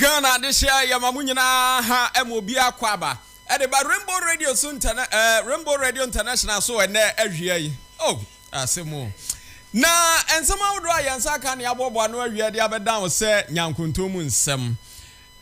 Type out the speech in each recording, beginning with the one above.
Ghana adehyeɛ a yɛma mo nyinaa ha ɛma obiara kɔ aba ɛde ba Rainbow Radio so ntɛnɛ ɛɛ Rainbow Radio International so ɛnɛ awia yi oh. Asɛm o! Na nsɛm ahodoɔ a yɛn nsa aka na yɛaboaboa ano awia de abɛdan wo sɛ nyankontɔn mu nsɛm.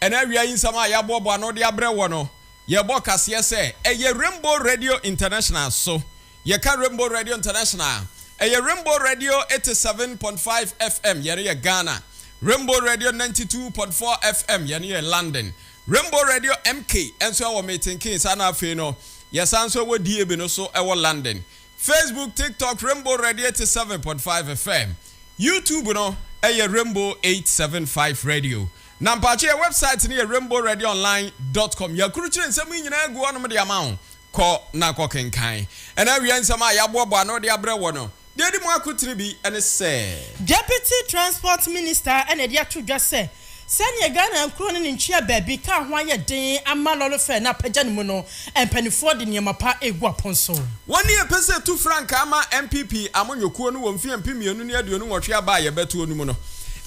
Ɛnɛ awia yi nsɛm a yɛaboaboa ano de abrɛ wo no, yɛbɔ kaseɛ sɛ ɛyɛ Rainbow Radio International so. Yɛka Rainbow Radio International a, ɛyɛ Rainbow Radio 87.5 FM, yɛn no yɛ Ghana, Rainbow Radio 92.4 FM, yɛn no yɛ London, Rainbow Radio MK nso wɔ Milton Keynes, ɛna afei no, yɛsan nso wɔ DAB no so wɔ London. Facebook, TikTok, Rainbow Red eighty seven point five FM. YouTube no yɛ Rainbow eight seven five Radio. Na mpaakyɛ yɛ website no yɛ rainbowredonline dot com. Yɛakrukyire nsɛm yi nyinaa agu hɔnom de ama wo. Kɔ na kɔ kenkan. Ɛna awiɛ nsɛm a yɛaboaboa ano de abrɛ wɔ no, deɛ ɛdi mu akotene bi ne sɛ. Deputy Transport Minister na ɛde ato dwa sɛ Sɛdeɛ Ghana nkuro ne ne ntwea baabi kaa ho ayɛ den ama lɔre fɛɛ no apagya ne mu no, mpaninfoɔ de nneɛma pa regu apon so. Wɔn ne ɛpɛ sɛ ɛtu frankaa ma NPP amanyɔkuo no wɔ mfeɛ mpem mmienu ne aduonu nwɔtwe aba a yɛbɛtoɔ no mu no.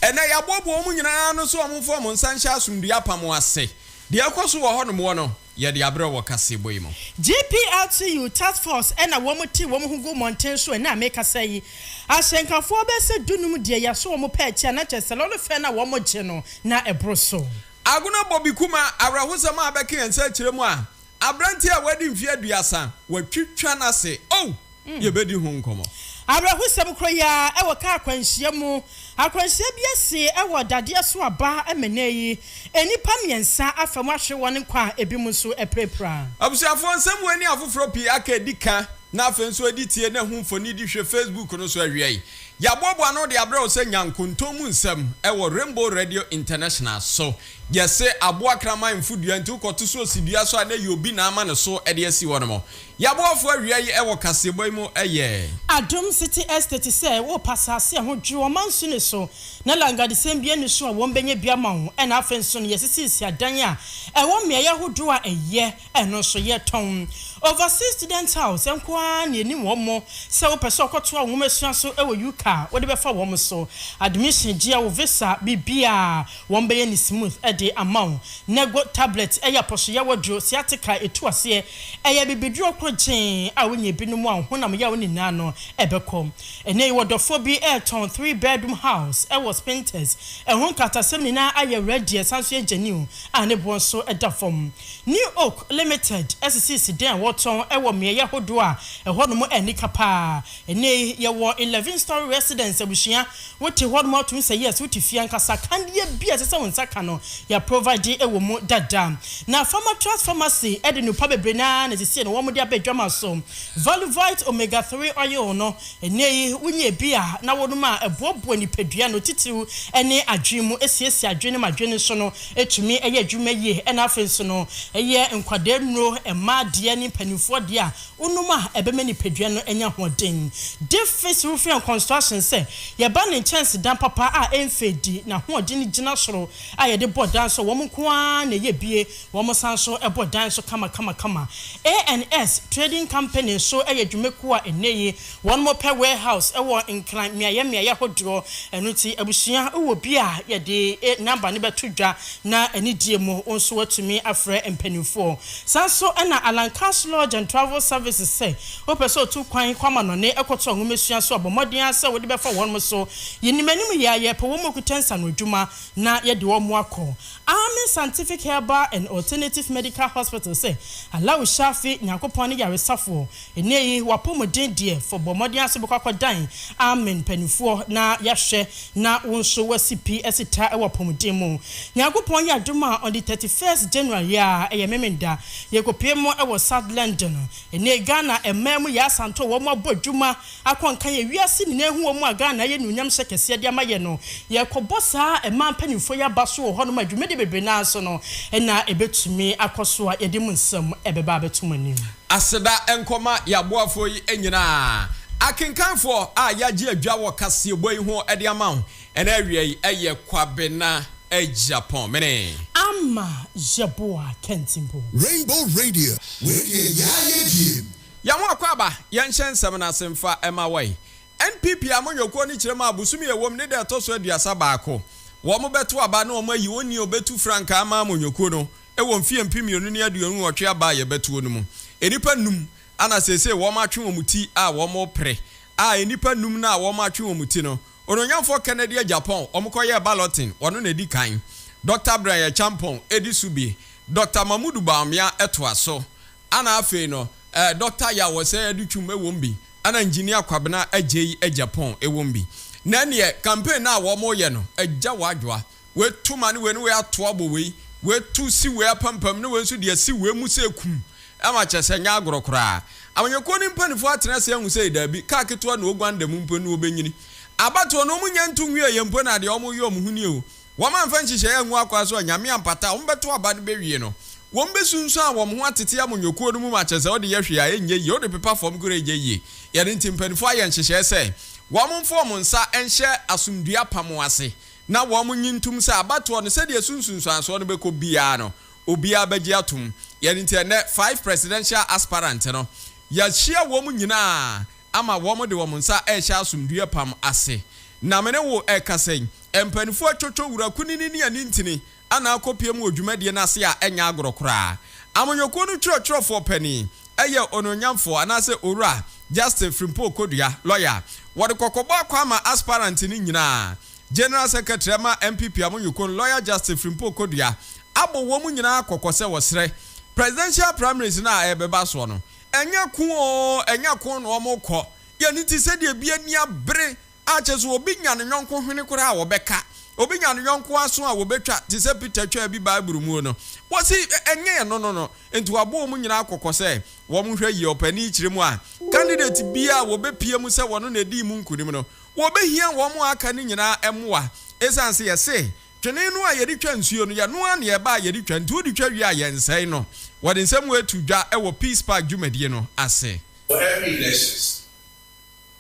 Ɛnnɛ yɛaboaboa wɔn nyinaa ano sɛ wɔmfa wɔn nsa nhyɛ asomdue apam ase. Deɛ ɛkɔ so wɔ hɔnom wɔ no, Yɛde aberɛ wɔ kaseɛbɔ yi mu. GPLTU task force ɛna wɔn tee wɔn ho guu mmɔnten so ɛnɛ a mekasa yi. Ahyɛnkafoɔ bɛyɛ sɛ dunum deɛ yɛaso wɔn pɛ atia na kyerɛ sɛ lɔre fɛn no a wɔgye no na ɛboro so. Agona Bobby Kumah awerɛhosɛm a abɛka yɛn nsa akyerɛ mu a aberanteɛ a wadi mfeɛ aduasa, wɔatwitwa no ase. Oh! yebedi ho nkɔmmɔ. Awerɛhosɛm koro yi ara wɔ kaa akwanhyia mu. Akwanhyia bi asi wɔ dadeɛ so aba ma ɛnnɛ yi nnipa mmiɛnsa afa mu ahwere wɔn nkwa a ebinom nso apirapira. Abusuafoɔ nsɛmmoa ni afoforɔ pii aka adi ka na afei nso adi tie na ɛho mfonidi hwɛ Facebook no so awia yi. Yɛaboaboa ano de abrɛ wo sɛ nya nkontom mu nsɛm wɔ Rainbow Radio International so. Yɛse aboa kraman mfo dua nti wokɔto so osi dua so a na ɛyɛ obi na ama ne so de asi hɔ nom. Y'aboafo awia yi wɔ kaseɛbɔ yi mu yɛ. Adom City Estate sɛ wopɛ asase a ɛho dwere, wɔma nso nni so na langadesɛm biara nni so a wɔbɛnya bi ama wo ɛna afei nso no yɛsisisi adan a ɛwɔ mmeaeɛ ahodoɔ a ɛyɛ ɛno nso yɛtɔn. Overseas Student House nko ara na ɛni wɔn sɛ wopɛ sɛ ɔkɔtoa wo nwomasua so wɔ UK a wode bɛfa wɔn so admission gyeɛ wo visa biribiara Wɔn bɛyɛ no smooth de ama wo. Nego tablet yɛ apɔsoyɛwɔ duro, sciatica a etu aseɛ. Ɛyɛ bibiduro koro gyee a wonya bi nom a wo honam yaw nyinaa no bɛkɔ. Ɛnnɛ yi ɔdɔfoɔ bi retɔn three bedroom house wɔ Spintex. Ɛho nkatasɛm nyinaa ayɛ ready ɛsan nso yɛ genuine a ne boɔ nso da fam. New Oak Limited sisiisi dan a wɔtɔn wɔ mmeaeɛ ahodoɔ a ɛhɔnom ani ka paa. Ɛnnɛ yi, yɛwɔ Eleven Story Residence abusua. Wote hɔnom a, wotumi sɛ yes, wote fie ankasa. Kanea bi a ɛsɛ sɛ wo nsa ka no, yɛaprovide wɔ mu dada. Na Pharmatrust Pharmacy de nnupa bebree no ara na seesei no wɔde aba adwama so. Valuvite Omega Three Oil no, ɛnnɛ yi wonya bi a na wonom a ɛboaboa nipadua no, titiriw ne adwene mu, esiesie adwene no ma adwene no so no tumi yɛ adwuma yie. Ɛnna afei nso no, ɛyɛ nkwadaa nnuro, mmaa deɛ ne mpanimfoɔ deɛ a wonom a ɛbɛma nipadua no anya ahoɔden. Davies Roofing and Construction sɛ yɛba ne nkyɛnsedan papa a ɛmfɛ di n'ahoɔden gyina soro a yɛde bɔ dan so wɔn nko ara na ɛyɛ bie wɔn san nso bɔ dan so kamakamakama. ANS Trading Company nso yɛ dwumakuo a ɛnnɛ yi Wɔpɛ warehouse wɔ Nkran mmeaeɛ mmeaeɛ ahodoɔ, ɛno nti abusua wowɔ bi a yɛde number no bɛto dwa na anidie mu wo nso woatumi afrɛ mpaninfoɔ. Saa nso na Alankas Lodge and Travel Services sɛ wopɛ sɛ wotu kwan kɔ amanɔne kɔtɔ nwomasua nso a bɔ mmɔden ara sɛ wode bɛfa wɔnom so. Yɛnim anim yɛ a yɛpɛ wɔn a wɔkuta nsanoadwuma na yɛde wɔn akɔ. Amin Scientific Herbal and Alternative Medical Hospital sɛ Allahu Shafi, Nyankopɔn ne Yaresafoɔ, Nnɛ yi w'apɔmuden deɛ fɔ bɔ mmɔden ara sɛ wobɛkɔ akɔdan amen mpaninfoɔ na yɛahwɛ na wo nso woasi pi asi ta wɔ apɔmuden mu. Nyankopɔn yɛ adom a on the thirty first January yi ara ɛyɛ Memenda yɛkɔpue mu wɔ South London. Nnɛ yi Ghana mmaa mu yɛ asanto a wɔn abɔ adwuma akɔ nkan yɛ wiase nyinaa hu wɔn a Ghana ayɛ anuonyam hyɛ kɛseɛ de ama yɛ no. Yɛrekɔbɔ saa mmaa mpaninfoɔ yi aba so wɔ hɔ nom a dwumadie bebree no ara so no na ɛbɛtumi akɔ so a yɛde mo nsɛm ɛbɛba abɛto mo anim. Aseda nkɔ ma yɛaboafoɔ yi nyinaa. Akenkanfoɔ a yɛagye adwa wɔ kaseɛbɔ yi ho de ama wo ɛnɛ awia yi yɛ Kwabena Agyapong mene. Amma Yeboah Kentmpo. Rainbow Radio, wei deɛ yaa yɛ diem. Yɛn ho akwaaba, yɛnhyɛ nsɛm no ase mfa ma wɔn. NPP amanyɔkuo no kyerɛ mu a bosome a ɛwom ne da a ɛtɔ so aduasa baako wɔn bɛto aba na wɔn ayi onii a ɔbɛtu frankaa ama amanyɔkuo no wɔ mfeɛ mpem mmienu ne aduonu nwɔtwe aba a yɛbɛtoɔ no mu. Nnipa nnum ana seesei wɔatwe wɔn ti a wɔrepre, a nnipa nnum no a wɔatwe wɔn ti no, Onuonyamfoɔ Kennedy agya Pong, wɔkɔyɛɛ balloting, ɔno na ɛdi kan. Dɔkta Brian Acheampong di so bi, Dɔkta Mamoudou Bawumia toa so, ana afei no eh, Dɔkta Yaw Osei Adutwum wɔ mu bi, ana Engineer Kwabena Adjei agya Pong wɔ mu bi. Na ɛneɛ, campaign no a wɔreyɛ no agya wɔadwoa. wei to ma ne wei ne wei ato abɔ wei, wei to si wei apampam ne wei nso de asi wei mu sɛ kum ma kyerɛ sɛ ɛnyɛ agorɔ koraa. Amanyɔkuo no mpaninfoɔ atena ase ahu sɛ daabi, kaa ketewa na wɔguan da mu mpo no wɔbɛnyini. Abatoɔ no wɔnnya nto nwieeɛ mpo na deɛ wɔyɛ wɔn ho nie o, wɔn amfa nhyehyɛeɛ angu akwaa so a Nyame ampata a wɔbɛto aba no bɛwie no, wɔbɛsunsuan a wɔn ho atete amanyɔkuo no mu ma kyerɛ sɛ wode yɛ hwee a ɛnyɛ yie, wode pepa fam koraa ɛnyɛ yie. Ɛno nti mpaninfoɔ ayɛ nhyehyɛeɛ sɛ wɔmfa wɔn nsa nhyɛ asomdue apam ase. na wɔnnye ntom sɛ abatoɔ no, sɛdeɛ ɛso nsunsuansoɔ no bɛkɔ biara no, obiara bɛgye atom. Yɛn nti ɛnnɛ, five presidential aspirants no, yɛahyia wɔn nyinaa ama wɔn de wɔn nsa rehyɛ asomdwoeɛ apam ase. Na me ne wo rekasa yi, mpaninfoɔ atwotwo Wura Kunini ne Anintini anaa akɔpie mu wɔ dwumadie no ase a ɛnyɛ agorɔ koraa. Amanyɔkuo no twerɛtwerɛfoɔ panin yɛ Onuonyamfoɔ anaasɛ Owura Justin Frimpong Kodua, lɔya. Wɔde kɔkɔbɔ akɔ ama aspirants no nyinaa. General Secretary ɛma NPP Amunyukun, Lawyer Justin Frimpong Kodua abɔ wɔn nyinaa kɔkɔ sɛ wɔsrɛ Presidential Primaries no a ɛrebɛba soɔ no, ɛnyɛ ko oo, ɛnyɛ ko na wɔrekɔ, yɛn ani te sɛdeɛ ebi ani abere a kyerɛ sɛ obi nya ne yɔnko hwene koraa a wɔbɛka, obi nya ne yɔnko aso a wɔbɛtwa te sɛ Peter twaa bi Bible muo no. Wɔse ɛnyɛ ɛno no no nti wɔabɔ wɔn nyinaa kɔkɔ sɛ wɔnhwɛ yie ɔpanin kyerɛ mu a candidate biara a wɔbɛpue mu sɛ wɔno na ɛdii mu nkunim no, wɔbɛhia wɔn a aka no nyinaa mmoa. Ɛsiane sɛ yɛse twene no a yɛde twa nsuo no, yɛnoa na yɛba a yɛde twa nti wode twa wie a yɛnsɛe no. Wɔde nsɛm wei to dwa wɔ Peace Park dwumadie no ase. For every elections,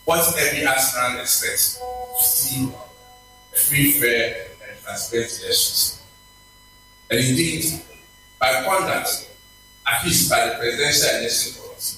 what every aspirant expects to see a free, fair and transparent elections and indeed by conduct at least by the Presidential Election Committee.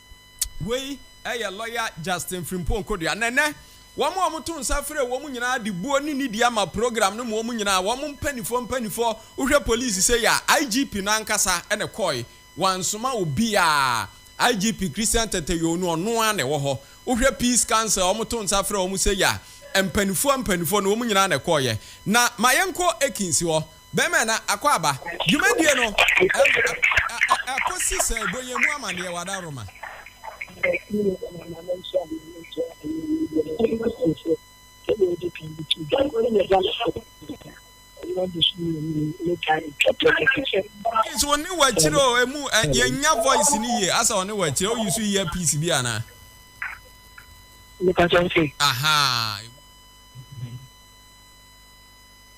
Wei yɛ lɔya Justin Frimpong Kodua na ɛnnɛ wɔn a wɔto nsa frɛɛ wɔn nyinaa de buo ne nidi ama program no ma wɔn nyinaa wɔn mpaninfoɔ mpaninfoɔ wohwɛ police sei a IGP no ankasa na ɛkɔɔe wansoma obiara IGP Christian Tatayow no ɔno ara na ɛwɔ hɔ wohwɛ Peace Council a wɔto nsa frɛɛ wɔn sei a mpaninfoɔ mpaninfoɔ no wɔn nyinaa na ɛkɔɔeɛ na ma yɛnkɔ Ekins hɔ Bɛmɛ na Akwaaba. Dwumadie no ɛkɔ si sɛ bɔ yɛn mu amaneɛ Wada Roma. Please wo ne wɔ akyire o emu yɛn nya voice ni yie asa ɔne wɔ akyire o yi so yɛ piece bi ana. Nipa kyɛn se. Ahaa.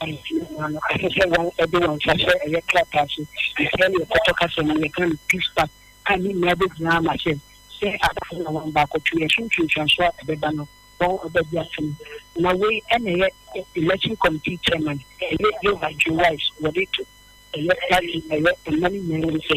Palestina mmaa no asɛ sɛ wɔn de wɔn nsa hyɛ ɛyɛ krataa so, Israel yɛ pɔtɔ kasa mu yɛka no peace pact a ne nyinaa bɛgyina ama sɛ sɛ asafo na wɔn baako twe yɛn so ntwentweanso a ɛbɛba no wɔn ɔba di asɛm na wei ɛna ɛyɛ election committee chairman ɛyɛ Yowah Joe Wise wɔde to ɛyɛ party ɛyɛ mma no nyinaa nim sɛ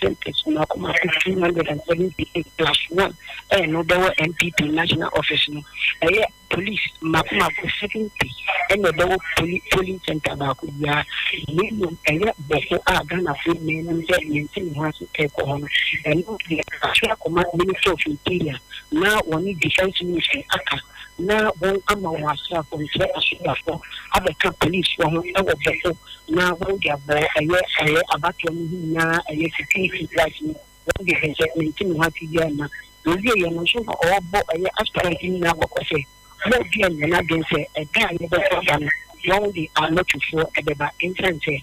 December so na ɔkɔma fifteen hundred and seventy eight plus one ɛyɛ na ɔbɛwɔ NPP national office no ɛyɛ police mako mako seventy ɛna ɛbɛwɔ poli polling center baako biara na mmom ɛyɛ bɔfo a Ghanafoɔ nyinaa nim sɛ yɛnte ne ho ase ɛkɔ hɔ no ɛno deɛ atwe akɔma minister of interior na wɔne defence ministry aka na wɔn ama wɔn asraafo nkyɛ asogafo abɛka polisfoɔ ho wɔ bɛko na wɔn de abɔ ɛyɛ ɛyɛ abatoɔ no ho nyinaa ɛyɛ security guards no wɔn de hwɛ sɛ mente ne ho ase biara mma wɔwie yɛ no nso na ɔrebɔ ɛyɛ aspirant nyinaa kɔkɔ sɛ wɔn deɛ nyɛ n'adwene sɛ ɛda a yɛbɛkɔ aba no wɔn de amatufoɔ ɛbɛba ɛnsan sɛ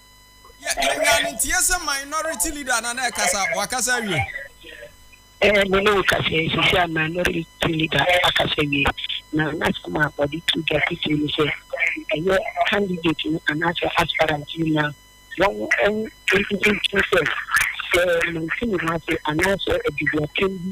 Yɛ enwia no ntie sɛ minority leader na na ɛkasa wakasa awie. Ɛɛ me ne wo kasa yi sisi a minority leader akasa awie na n'asɛm a ɔde to dwa titiri ne sɛ ɛyɛ candidate no anaasɛ aspirant no na wɔn ɛn ɛntumi nkyerɛ sɛ sɛ mante ne ho ase anaasɛ aduduatɛm bi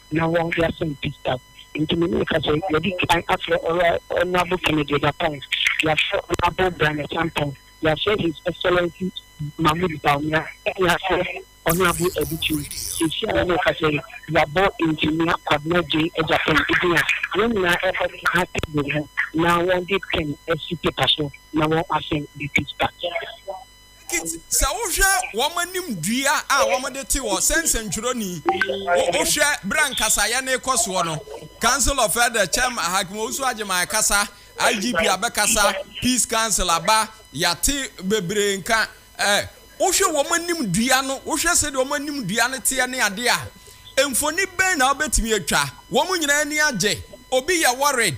na wɔn de asɛm Gustav. Nti me ne ka sɛ yɛadi kan afrɛ Ɔra Honourable Kennedy Agyapong, yɛafrɛ Honourable Brian Acheampong, yɛafrɛ His Excellency Mahmoud Bawumia ne yɛafrɛ Honourable Adu Kyei. Seesei a me ne wo kasa yi, yɛabɔ Engineer Kwabena Gyei Agyapong din a wɔn nyinaa ɛbɛtena table ho na wɔn de pen asi paper so na wɔn asɛm de Gustav. Kit, sɛ wohwɛ wɔn anim dua a wɔde te hɔ sɛ nsɛntwerɛni, wohwɛ berɛ a nkasayɛ no rekɔ soɔ no, Council of Elders Chairman Hakim Owusu Agyemang kasa, IGP abɛkasa, Peace Council aba, yɛate bebree nka, eh, wohwɛ wɔn anim dua no, wohwɛ sɛdeɛ wɔn anim dua no teɛ ne adeɛ a, mfoni bɛn na wobɛtumi atwa? Wɔn nyinaa ani agye, obi yɛ worried,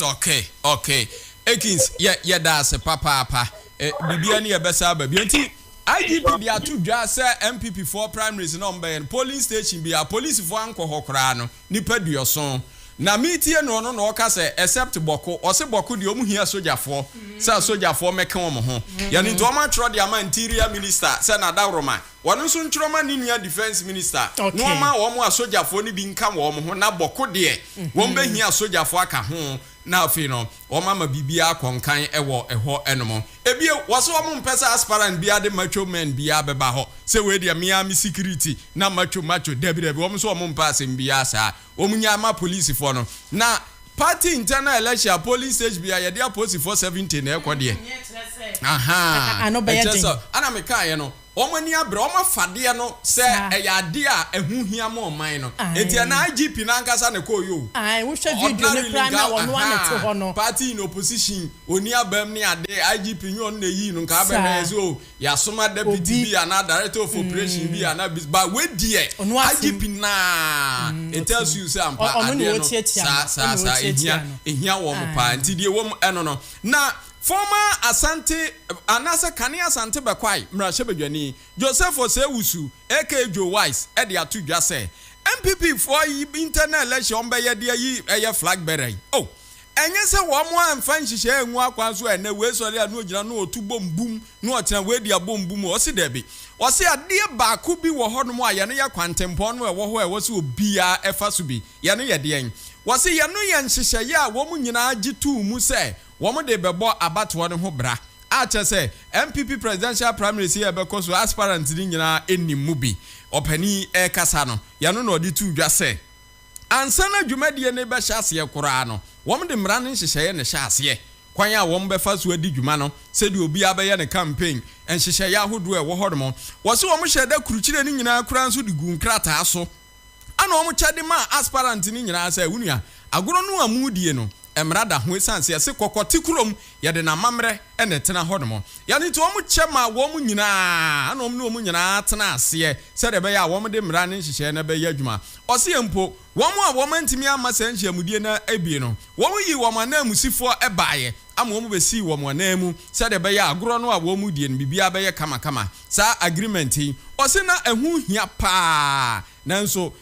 Ok ok Akins yɛ yɛda ase papaapa eh, biribiara ni yɛbɛsa aba bio nti IGP de ato dwa sɛ MPP foɔ primaries na ɔmbɛyɛ no polling station bi a polisifoɔ ankɔ hɔ koraa no nipa duɔson na metie no ɔno na ɔka sɛ except bɔko ɔse bɔko deɛ ɔmo hia sogyafoɔ sɛ sogyafoɔ mɛka ɔmo ho yɛne nti ɔmo atwerɛ de ama interior minister sɛ nadaworoma Wɔn nso ntwerɛ ma ne nua Defence Minister na ɔma wɔn asogyafoɔ no bi nka wɔn ho na bɔko deɛ wɔn bɛhia asogyafoɔ aka ho na afei no wɔn ama biribiara akɔ nkan wɔ ɛhɔ nom. Ebio wɔse wɔn mpɛ sɛ aspirant biara de macho men biara bɛba hɔ sɛ wei deɛ me ara me security na macho macho dabi dabi wɔn nso wɔn mpɛ asɛm biara saa. wɔn nyaa ma polisifɔ no na party internal election a polling stage bia yɛde aposifɔ 70 na ɛkɔ deɛ ahaa ɛkyɛ sɛ ana mekaeɛ no wɔn ani abrɛ wɔn afadeɛ no sɛ ɛyɛ adeɛ a ɛho hia ma ɔman no eti ɛna IGP no ankasa na ɛkɔɔ yo wohwɛ video no koraa na wɔn ano te hɔ no party in opposition oni abam ne ade IGP nyɛ ɔno na ɛyii no nka abɛhwɛ yɛ sɛ o Yasoma deputy bi anaa director of operation bi anaa bi but wei deɛ IGP naa it tells you sɛ ampa adeɛ no saa saa saa ehia ehia wɔn paa nti deɛ wɔm ɛno no na former Asante anaasɛ kane Asante bɛkwae mmarahyɛbadwani Joseph Osei-Owusu aka Joe Wise ɛde ato dwa sɛ NPP foɔ yi internal election wɔn bɛyɛ de ayi ɛyɛ flag bearer yi oh Ɛnyɛ sɛ wɔn amfa nhyehyɛɛ angu akwan so a ɛnnɛ wei sɔre a na ɔgyina na ɔtu bom bum na ɔtena wei dea bom bum ɔse dabi. Ɔse adeɛ baako bi wɔ hɔ nom a yɛno yɛ kwantempɔn no a ɛwɔ hɔ a ɛwɔ sɛ obiaa ɛfa so bi. Yɛno yɛ deɛn? Wɔse yɛno yɛ nhyehyɛeɛ a wɔn nyinaa gye too mu sɛ wɔn de rebɛbɔ abatoɔ no ho bra. A kyerɛ sɛ NPP presidential primaries yi a ɛbɛkɔ so aspirants no nyinaa nnim mu bi. Ɔpanin rekasa no yɛno na ɔde too dwa sɛ. Ansa na dwumadie no rebɛhyɛ aseɛ koraa no, wɔde mmara no nhyehyɛeɛ na ɛhyɛɛ aseɛ. Kwan a wɔbɛfa so adi dwuma no, sɛdeɛ obiara bɛyɛ ne campaign, nhyehyɛeɛ ahodoɔ a ɛwɔ hɔ nom. Wɔse wɔhyɛɛ da kurukyerɛ no nyinaa koraa nso de guu nkrataa so. Ɛna wɔkyɛ de maa aspirant no nyinaa sɛ, Wo nua, agorɔ no a moredie no, mmara da ho esiane sɛ yɛse kɔkɔ te kurom, yɛde n'amammerɛ na ɛtena hɔnom. Ɛno nti wɔn kyɛ maa wɔn nyinaa, ɛna wɔn ne wɔn nyinaa tenaa aseɛ sɛdeɛ ɛbɛyɛ a wɔde mmara ne nhyehyɛeɛ no bɛyɛ adwuma. Ɔseɛ mpo, wɔn a wɔn antumi amma saa nhyiamudie no abie no, wɔn yii wɔn ananmusifoɔ baeɛ ama wɔn bɛsii wɔn ananmu sɛdeɛ ɛbɛyɛ a agorɔ no a wɔredie no biribiara bɛyɛ kamakama. Saa agreement yi, ɔse na ɛho hia pa ara, nanso,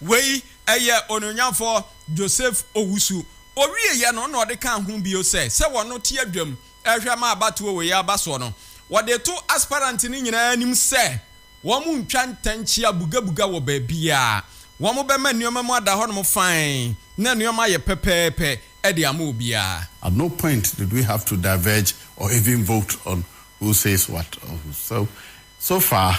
Wei yɛ Onuonyamfoɔ Joseph Owusu. Ɔwieeɛ no na ɔde kaa ho bio sɛ, sɛ wɔno te adwam rehwɛ ma abatoɔ wei aba soɔ no, wɔde to aspirant no nyinaa anim sɛ wɔn ntwa ntɛnkyea bugabuga wɔ baabiara. Wɔn bɛma nneɛma mu ada hɔnom fann na nneɛma ayɛ pɛpɛɛpɛ de ama obiara. At no point did we have to diverge or even vote on who says what or who so so far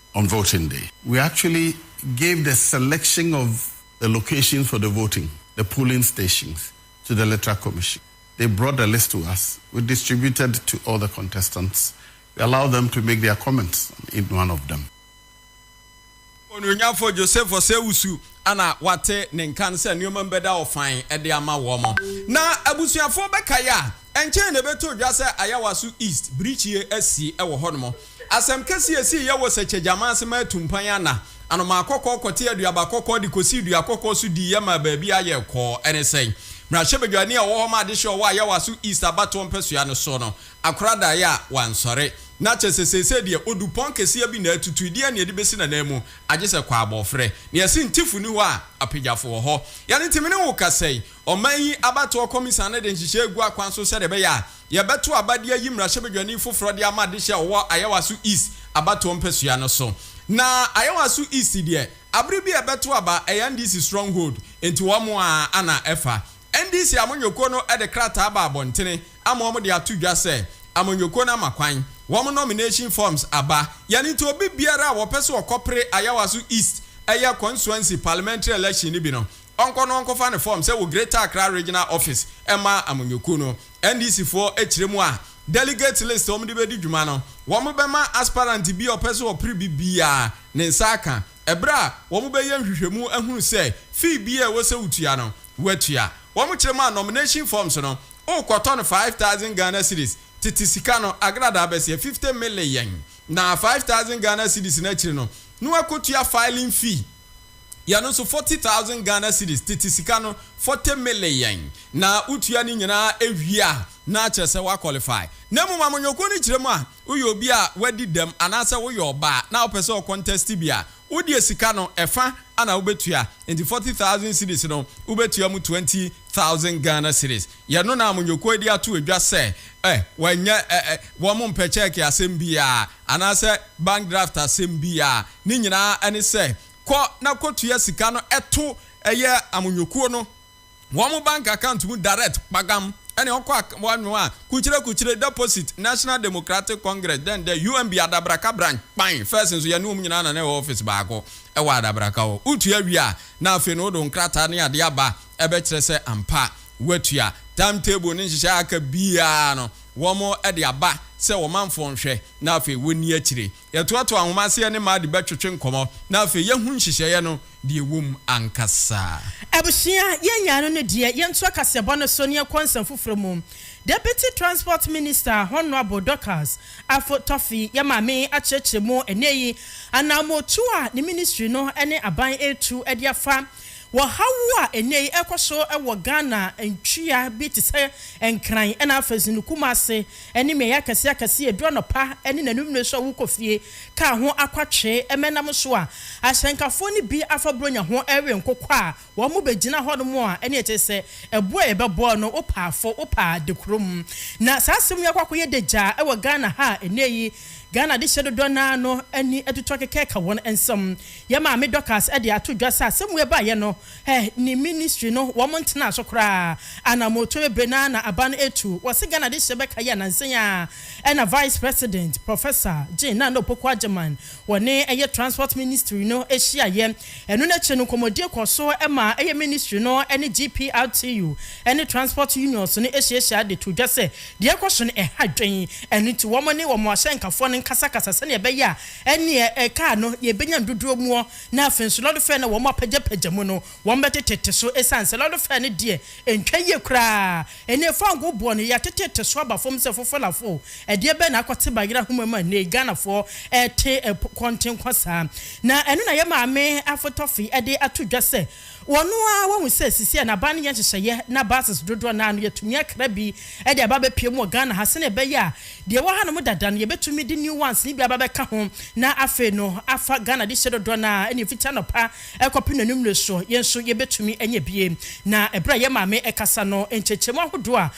on voting day. We actually gave the selection of the locations for the voting, the polling stations, to the Electoral Commission. They brought the list to us. We distributed to all the contestants. We allowed them to make their comments on each one of them. Onuonyamfo Joseph Osei-Owusu na wɔate ne nka no sɛ nneɛma mu bɛda hɔ fann de ama wɔn. Na abusuafo bɛkae a, ɛnkyɛe na ɛbɛtoo dwa sɛ Ayawaso East birikyie asi wɔ hɔnom. Asɛm kɛse a esii yɛ wɔ sɛkyɛgyama ase ma atumpan ana, anomaa kɔkɔɔ kɔtee aduaba kɔkɔɔ de kosii dua kɔkɔɔ so diiɛ maa baabiara yɛɛ kɔɔ. Ɛne sɛn? Mmarahyɛbadwani a ɔwɔ hɔ ma adehyeɛ a ɔwɔ Ayawaso East abatoɔ mpɛsoa no so no akora daeɛ a wansɔre. Na kyerɛ sɛ seesei deɛ, ɔdu pɔn kɛseɛ bi na atutu. Ɛdeɛn na yɛde bɛsi n'ananmu? Agye sɛ kwaabɔɔfrɛ. Nea ɛse Ntefo nni hɔ a, apagyafo wɔ hɔ. Yɛn nti, me ne wo kasa yi, ɔman yi abatoɔ kɔmisa no de nhyehyɛe regu akwan so sɛdeɛ ɛbɛyɛ a, Yɛbɛto aba de ayi mmarahyɛbadwani foforɔ de ama adehye a ɔwɔ Ayawaso East abatoɔ mpasua no so. Na Ayawaso East deɛ, abere bi a ɛbɛto aba, ɛyɛ NDC stronghold, nti wɔn ara na ɛfa. NDC amanyɔkuo no de krataa aba abɔntene ama wɔn de ato dwa sɛ, amanyɔkuo no ama kwan, wɔn nomination forms aba. Yɛn nti, obi biara a wɔpɛ sɛ wɔkɔpere Ayawaso East ɛyɛ consuency parliamentary election no bi no, ɔnkɔ na ɔnkɔfa ne form sɛ wɔ Greater Accra Regional Office mma amanyɔkuo no. NDC foɔ kyerɛ mu a delegate list a wɔde bɛdi dwuma no, wɔbɛma aspirant bi a ɔpɛ sɛ ɔpere bi biara ne nsa aka ɛberɛ a wɔbɛyɛ nhwehwɛmu ahunu sɛ fee biara a ɛwɔ sɛ wotua no, woatua. Wɔkyerɛ mu a nomination forms no, wokɔtɔ no five thousand Ghana cedis, tete sika no, agradaa bɛseɛ, fifty mile yɛn, na five thousand Ghana cedis no akyiri no, na woakɔtua filing fee. yɛn no nso forty thousand Ghana cedis tete sika no forty million na wo tua ne nyinaa wie a na akyerɛ sɛ wa qualify na mmom amanyɔkuo no kyerɛ mu a wo yɛ obi a wadi dɛm anaa sɛ wo yɛ ɔbaa na wo pɛ sɛ wo contest bi a wo deɛ sika no ɛfa ana wo bɛtua nti forty thousand cedis no wo bɛtua mu twenty thousand Ghana cedis yɛ no na amanyɔkuo yi de ato adwa sɛ eh wanyɛ eh eh wɔn mpɛ check asɛm biara. Anaasɛ bank draft asɛm bi a ne nyinaa ne sɛ kɔ na kɔtua sika no to ɛyɛ amonyɔkuo no wɔn bank account mu direct kpagam ɛne ɔkɔ a wɔanwo a kukyire kukyire deposit National Democratic Congress dɛn dɛ UMB Adabraka branch kpan first nso yɛne wɔn nyinaa na na ɛwɔ office baako ɛwɔ Adabraka hɔ wotua wie a na afei no wode wo nkrataa ne adeɛ aba ɛbɛkyerɛ sɛ ampa woatua time table ne nhyehyɛɛ a aka biara no wɔde aba sɛ wɔn manfoɔ nhwɛ na afei wɔnni akyire. Yɛtoatoa nwoma aseɛ ne mmaa de bɛtwetwe nkɔmmɔ na afei yɛahu nhyehyɛeɛ no deɛ ɛwɔ mu ankasa. Abusua, yɛn nyaa no no deɛ, yɛntoa kaseɛbɔ no so na yɛnkɔ nsɛm foforɔ mu. Deputy Transport Minister, Honourable Dorcas Afo Toffi, yɛ maame akyerɛkyerɛ mu ɛnnɛ yi, anaammɔtuo a ne ministry no ne aban retu de afa, Wɔ haw a ɛnnɛ yi ɛrekɔ so wɔ Ghana ntua bi te sɛ Nkran ɛna afei nso no Kumase ɛne mmeaeɛ akɛseɛ akɛseɛ ɛduru anɔpa ɛne n'anummerɛ so a wokɔ fie kaa ho akwatwe ɛmɛnam so a ahyɛnkafoɔ no bi afa Buronya ho ɛrewe nkokɔ a wɔn bɛgyina hɔ nom a ɛne ɛkyerɛ sɛ ɛboɔ a yɛbɛbɔ no wopɛ afo wopɛ ade kurom na saa asɛm yi akɔ akɔyɛ dagyaa ɛwɔ Ghana ha a ɛnnɛ yi Ghana adehyeɛ dodoɔ no ara no ani atutu akeka ɛka wɔn nsam. Yɛ maame Dorcas de ato dwa sɛ asɛm wei baeɛ no, eh, ne ministry no, wɔn ntenaa so koraa. Anamɔtuo bebree no ara na aba no ɛtu. Wɔse Ghana de hyeɛ bɛka yi anansa yi ara, ɛna Vice President, Professor, Jane Nana Opoku Agyemang, wɔne ɛyɛ Transport Ministry no hyiaeɛ. Ɛno no akyire no, nkɔmmɔdie kɔɔ so maa ɛyɛ ministry no ne GPRTU ne transport unions no hyiahyiaeɛ de too dwa sɛ, deɛ ɛrekɔ so no, ɛha adwene. Ɛno nti, wɔn ne wɔn ahyɛnkafoɔ no nkasakasa sɛdeɛ ɛbɛyɛ a, Ɛneɛ ɛkaa no yɛbɛnya no dodoɔ muɔ, na afei nso lɔdofɛɛ no a wɔn apagyapagya mu no wɔn bɛtetete so, ɛsiane sɛ lɔdofɛɛ no deɛ ɛntwa yie koraa, ɛneɛ fangoo boɔ no yɛatetete so aba fam sɛ fofolafoo, ɛdeɛ bɛn na akɔte bayerɛ ahoma mu a nnɛyi Ghanafoɔ ɛrete kɔnten kɔ saa? Na ɛno na yɛn maame afotɔfe de ato dwa sɛ, Wɔno ara wɔahu sɛ seesei n'aban no yɛ nhyehyɛeɛ na buses dodoɔ no ara no yɛatumi akra bi de aba abɛpue mu wɔ Ghana ha sɛdeɛ ɛbɛyɛ a deɛ ɛwɔ hanom dada no yɛbɛtumi de new ones no bi aba abɛka ho na afei no afa Ghana dehyeɛ dodoɔ no ara ne ɛfiti anɔpa kɔpem n'anwummere soɔ yɛn nso yɛbɛtumi anya bi. Na berɛ a yɛn maame rekasa no, nkyɛkyɛmu ahodoɔ a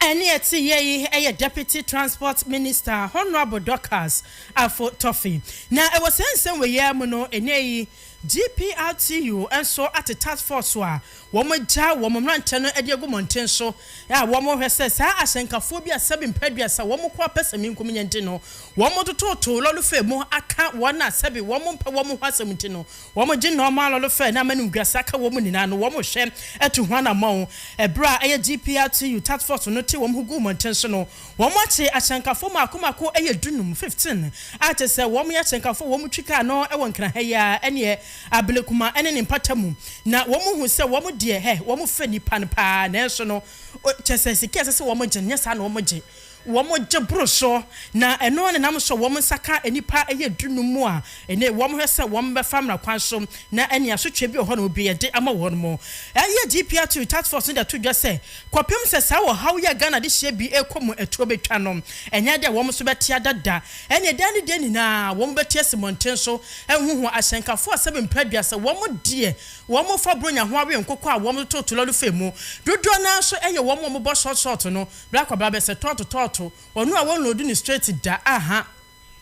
Ɛne ɛte yɛ yi yɛ Deputy Transport Minister Honourable Dorcas Afo Toffey. Na ɛwɔ saa nsɛm wei ara mu no, ɛnnɛ yi GPRTU nso ate task force a wɔagya wɔn mmeranteɛ no de agu mmɔnten so a wɔrehwɛ sɛ saa ahyɛnkafoɔ bi a sɛbi mpɛ aduasa wɔn ko apɛsɛmenkominya nti no wɔtototo lɔrefa mu aka wɔn a sɛbi wɔmpɛ wɔn ho asɛm nti no Wɔgye nɔɔma lɔlefɛɛ na amanimguase aka wɔ mu nyinaa no wɔn hwɛ atu ho anammɔn. Ɛberɛ a ɛyɛ GPRTU task force no te wɔn ho gu mmɔnten so no, wɔn akye akyɛnkafoɔ mmaako mmaako ɛyɛ du num, fifteen, a kyerɛ sɛ wɔn yɛ akyɛnkafoɔ a wɔn twi kaa no wɔ Nkran ha yi ara ɛneɛ Ablekuma ɛne ne mpata mu na wɔn hu sɛ wɔn deɛ hɛ wɔn fɛ nnipa no paa nanso no kyerɛ sɛ sika a ɛsɛ sɛ wɔn gye no nyɛ saa na wɔn gye. Wɔgye boro so, na ɛno ara na ɛnam so a wɔn nsa ka nnipa ɛyɛ dunum mu a ɛnnɛ wɔhwɛ sɛ wɔbɛfa mmara kwan so na ɛne asotwe bi wɔ hɔ na wɔbie de ama wɔn mo. Ɛyɛ DPRTU Task Force no de ato dwa sɛ kɔpem sɛ saa ɔhaw yi a Ghana adehyeɛ bi rekɔ mu ɛtoɔ bɛtwa no, ɛnyɛ dɛ wɔn nso bɛtea da da, ɛne dan ne dan nyinaa wɔn bɛte asi mmɔnten so ahuhu ahyɛnkafoɔ asɛm mpra aduasa, wɔn deɛ wɔfa Buronya ho awe nkokɔ a wɔtoto tolɔlefɛ mu, dodoɔ no ara nso ɛyɛ wɔn a wɔbɔ short short no. Bere akɔba bɛ sɛ tɔɔto tɔɔto ɔno a wɔnloadu no straight da aha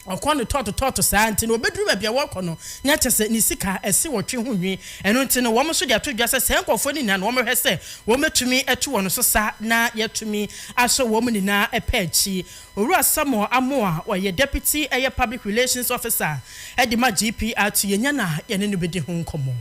ɔkɔ no tɔɔto tɔɔto saa nti na ɔbɛduru baabi a wɔkɔ no na kyɛ sɛ ne sika ɛse ɔtwe ho nwi ɛno nti no wɔn nso de ato dwa sɛ saa nkurɔfoɔ no nyinaa na wɔn hwɛ sɛ wɔn bɛtumi atu wɔn so sa na yɛatumi asɔ wɔn nyinaa ɛpɛ akyi Owura Samuel Amoah ɔyɛ Deputy ɛyɛ Public Relations Officer ɛde ma GPR to yɛnya na yɛne no bɛdi ho nkɔmmɔ.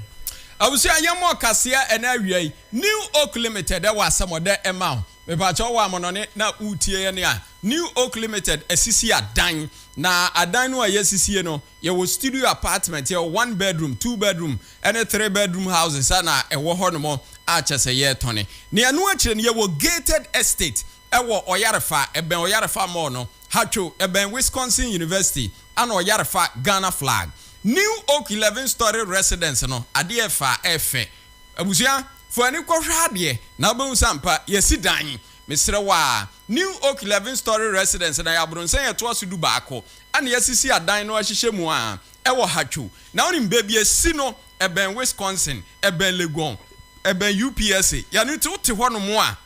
Abusua yɛmmɔ kaseɛ ɛna awia yi. New Oak Limited ɛwɔ asɛm ɔdɛ ɛma wo. Mepakyɛw wo amɔnɔne na woretie yɛn a New Oak Limited asisi adan. Na adan no a yɛasisie no, yɛwɔ studio apartment, yɛwɔ one bedroom, two bedroom ne three bedroom houses a na ɛwɔ hɔnom a kyerɛ sɛ yɛretɔne. Na ɛno akyire no yɛwɔ gated estate wɔ Ɔyarefa, ɛbɛn Ɔyarefa mall no, Hatcho, ɛbɛn Wisconsin University and Ɔyarefa Ghana flag. New Oak eleven storey residence no, adeɛ ɛfa a ɛfɛ. Abusua fo ani kɔ hwɛ adeɛ na wobɛhu sɛ ampa yɛasi dan. Mesrɛ wo a, New Oak Eleven Story Residence na yɛ abronsɛn a ɛtoa so du baako a na yɛasisi adan no ahyehyɛ mu a ɛwɔ Hatcho. Na wonim baabi a ɛsi no? Ɛbɛn Wisconsin, ɛbɛn Legon, ɛbɛn UPSA. Yɛ ano nti wote hɔ nom a,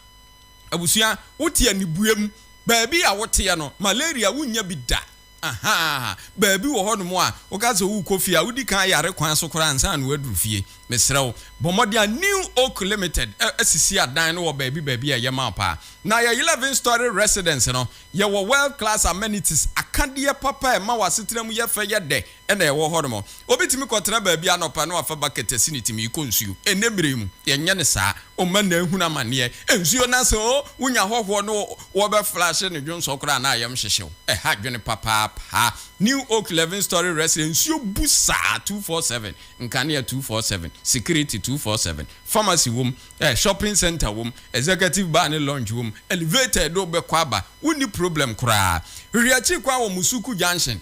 abusua, wote anibue mu. Baabi a woteɛ no, malaria wonnya bi da. Ahaa! Baabi wɔ hɔnom a woka sɛ worekɔ fie a, wodi kan yare kwan so koraa ansa na woaduru fie. Mesrɛ wo, bɔ mmɔden a New Oak Limited asisi adan no wɔ baabi baabi a ɛyɛ ma wo paa. Na yɛn eleven story residence no, yɛwɔ world class amenities, akadeɛ papa a ɛma w'asetena mu yɛ fɛ, yɛ dɛ, na ɛwɔ hɔnom. Obi tumi kɔtra baabi anɔpa na wafa bucket asi ne tirim rekɔ nsuo. Ɛnnɛ berɛ yi mu, yɛnyɛ no saa. Wo mma nnɛ ahunu amanneɛ. Nsuo no ase oo, wonya hɔhoɔ ne wɔbɛflashe no dwonsɔ koraa a na ayam hyehye wo. Ɛha adwene papaapa. New Oak Eleven Story Residence, nsuo bu saa two four seven, nkanea two four seven, security two four seven. Pharmacy wom, eh, shopping centre wom, executive bar ne lounge wom. Elevator a ɛde wo bɛkɔ aba, wonni problem koraa. Hwehwɛ akyiri kwan wɔ Musuku Junction,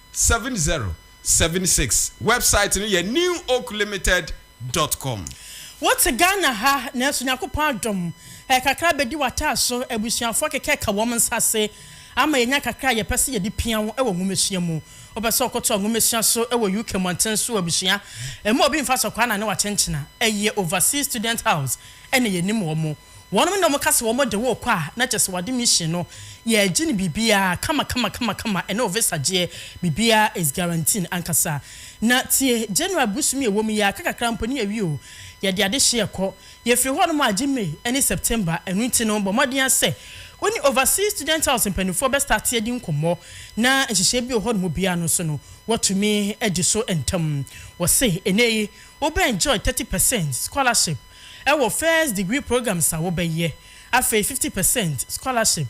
Seven zero seven six Wɛbsaet no yɛ newoaklimited dɔt kɔm. Wote Ghana ha, nanso Nyankopɔn adom ɛyɛ kakra bɛdi w'ataa so. Abusuafoɔ akekɛka wɔn nsa ase ama yɛanya kakra a yɛpɛ sɛ yɛde pia wo wɔ nwomasua mu. Wopɛ sɛ wokɔtoa nwomasua so wɔ UK mmɔnten so wɔ abusua a ɛmu a obi mfa so kwaa na ne wakyenkyena? Ɛyɛ Overseas Student House na yɛnim wɔn. Wɔnom na wɔka sɛ wɔn de wo kɔ a na kyerɛ sɛ wɔade mission no, yɛgye no biribiara kama kama kama kama, ɛne wo visa gyeɛ, biribiara is guaranteen ankasa. Na tie, January bosom yi a ɛwɔ mu yi ara, kakakra mpo ne yɛawie o, yɛde adehyeɛ rekɔ, yɛfiri hɔnom a agye May ɛne September, ɛno nti no bɔ mmɔden ara sɛ wo ne Overseas Student House mpanimfoɔ bɛ starte adi nkɔmmɔ na nhyehyɛɛ bi wɔ hɔnom biara no nso no wɔatumi adi so ntɛm. Wɔse ɛnnɛ yi wobɛ enjoy thirty percent scholarship, ɛwɔ first degree programs a wobɛyɛ, afei fifty percent scholarship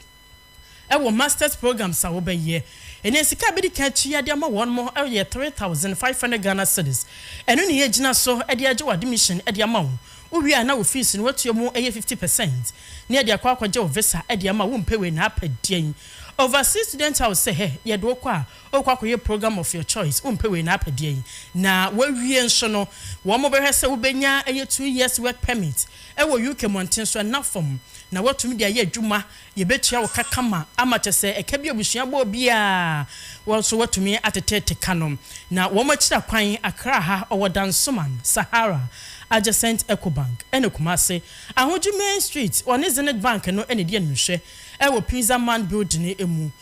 ɛwɔ masters programs a wobɛyɛ. Ɛnɛ sika a bɛdi kan atua de ama wɔn mo yɛ three thousand five hundred Ghana cedis. Ɛno na yɛgyina so de agye wo admission de ama wo. Wo wie a na wo fees no woatua mu yɛ fifty percent na yɛde akɔ akɔgye wo visa de ama wo. Wo mpɛ wei na apɛ deɛn? Overseas Student House sɛ hɛ yɛde wo kɔ a, Wokɔ akɔyɛ program of your choice, wompɛ wei na apɛ deɛ yi, na woawie nso no, wɔn bɛhwɛ sɛ wobɛnya ɛyɛ two years work permit wɔ UK mmɔnten so ɛna fam, na woatumi de ayɛ adwuma, yɛbɛtua wo ka kama ama kyɛ sɛ ɛka bi a abusua bɔɔ biara wo nso woatumi atetete ka no, na wɔn akyira kwan Accra ha ɔwɔ Dansoman, Sahara, adjacent Ecobank, ɛna Kumasi, Ahoji main street, wɔne Zenith Bank no na ɛdi animhwɛ ɛwɔ Pizza Man building mu,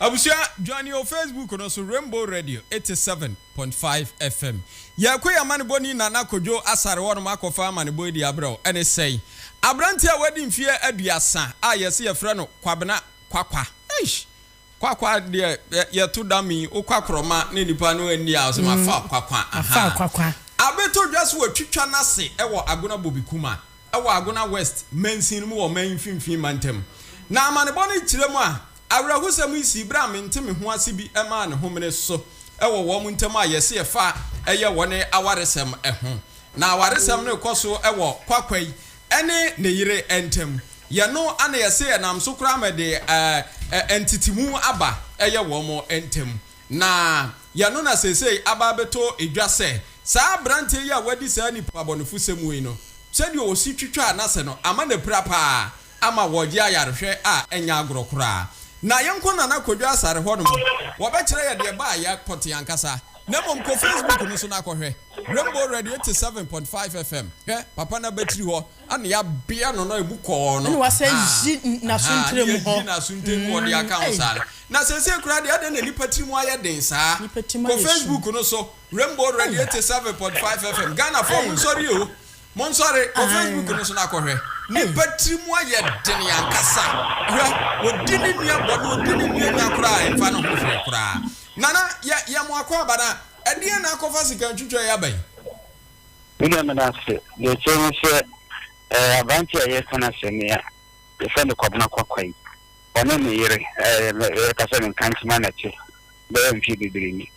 Abusua dwane o Facebook no so Rainbow Radio eighty seven point five FM Yɛkɔ yɛn amanebɔni Nana Kwadwo Asare hɔ nom akɔfa amanebɔ adi abrɛ wo ɛne sɛi Aberanteɛ a wadi mfeɛ aduasa a yɛse yɛfrɛ no Kwabena Kwakwa eish Kwakwa deɛ yɛto da me wo kwakorɔma ne nipa no anni a ɔse mafa Kwakwa ahaa Abeto dwa so watwitwa nase wɔ Agona Bobi Kuma wɔ Agona West mansin mu wɔ ɔman yi mfimfini mantam. Na amanebɔ no kyerɛ mu a awerɛhosɛm yi sii bere a mente me ho ase bi maa ne homene so wɔ wɔn ntam a yɛse ɛfa ɛyɛ wɔn awaresɛm ho. Na awaresɛm no rekɔ so wɔ Kwakwai ne ne yere ntam. Yɛ no na yɛse ɛnam so koraa ma ɛde ntetemu aba ɛyɛ wɔn ntam. Na yɛno na seesei aba abɛtɔ dwa sɛ saa aberanteɛ yi a wadi saa nnipoabɔnefosɛm wei no, sɛdeɛ ɔsi twitwaa n'ase no ama no apira pa ara ama wɔregye ayarehwɛ a ɛnyɛ agorɔ koraa. Na yɛnkɔ Nana Kwadwo Asare hɔnom, wɔbɛkyerɛ yɛ deɛ ɛbaa yɛ kɔte ankasa. Na mmom kɔ Facebook no so na kɔhwɛ, Rainbow Radio 87.5 FM, hwɛ, papa no abatiri hɔ. Ɛna yɛabea no na emu kɔɔ no. Ɛna wɔasan ayi n'asonterɛmu hɔ. Aha, na yɛayi n'asonterɛmu hɔ de aka ho saa no. Na seesei koraa deɛ, adɛn na nnipa tirim ayɛ den saa? Nnipa tirim ayɛ sum. Kɔ Facebook no so, Rainbow Radio eighty seven point five FM. Ghanafoɔ, monsɔre o! Monsɔre! Kɔ Facebook no so na kɔhwɛ. Nnipa tirim ayɛ den ankasa. Hwɛ, ɔdi ne nua bɔne, ɔdi ne nua nya koraa a, ɛmfa ne ho hwee koraa. Nana, yɛ, yɛ mo akwaaba no a, ɛdeɛn na akɔfa sika ntwitwa yi aba yi? Me nua meda ase. Deɛ ɛkyerɛ ne sɛ ɛɛ aberanteɛ a yɛreka n'asɛm yi a yɛfrɛ no Kɔbena Kwakwa yi, ɔne ne yere ɛɛ yɛreka sɛ ne nkankyema na ɛte bɛyɛ mfeɛ bebree ni.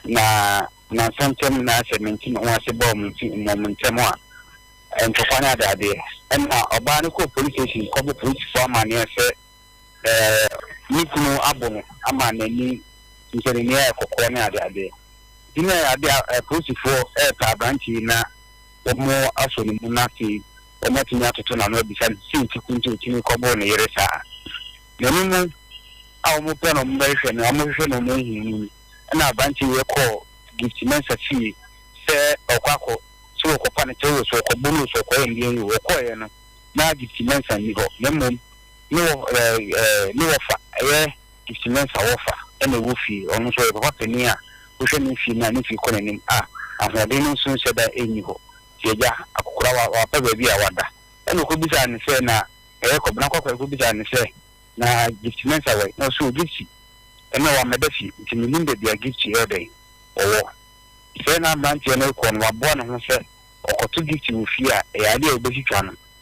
Na nnansa ntam na sɛ mente me ho ase bɔ wɔn nti mmom ntɛm a ntɔkwa ne adeadeɛ. Ɛnna ɔbaa no kɔɔ police station kɔbɔ polisifoɔ amanneɛ sɛ, Ɛɛ, ne kunu abo no ama n'ani nsɛnnennen ayɛ kɔkɔɔ ne adeadeɛ. Nti na ade a apolisifoɔ repɛ aberante yi na wɔasɔ ne mu na afei wɔatumi atoto n'ano abisa no sɛ nti ko nti ɔtumi kɔboro ne yere saa. N'ani no a wɔpɛ no wɔbɛhwehwɛ no wɔhwehwɛ no wɔanhu no mu na aberante yi kɔɔ Gift Mensah fie sɛ ɔkɔ akɔ sɛ wɔkɔpa no kyɛw o, sɛ wɔkɔbɔ no o, sɛ wɔkɔyɛ nneɛma yi o. Wɔkɔeɛ no, na Gift Mensah nni hɔ na mmom Ne wɔ ɛɛ ne wɔfa ɛyɛ Gifty Mensah wɔfa ɛna ɛwɔ fie. Ɔno nso ɔyɛ papa panin a wohwɛ ne fie mu a ne fie kɔ n'anim a ahoɔden no nso nhyɛ da nni hɔ. Nti agya akokora wa wapɛ baabi a wada. Ɛna ɔkɔbisaa no sɛ na ɛyɛ Kɔbena Kwakoraa kɔbisaa no sɛ na Gifty Mensah wɔ he? Na ɔse o Gifty ɛnɛ wammɛda fie nti mennim baabi a Gifty ɛyɛ dɛn ɔwɔ. Sɛɛ na aberanteɛ no rekɔ no waboa ne ho sɛ ɔkɔto Gifty wɔ fie a ɛyɛ adeɛ a ɔbɛtwitwa no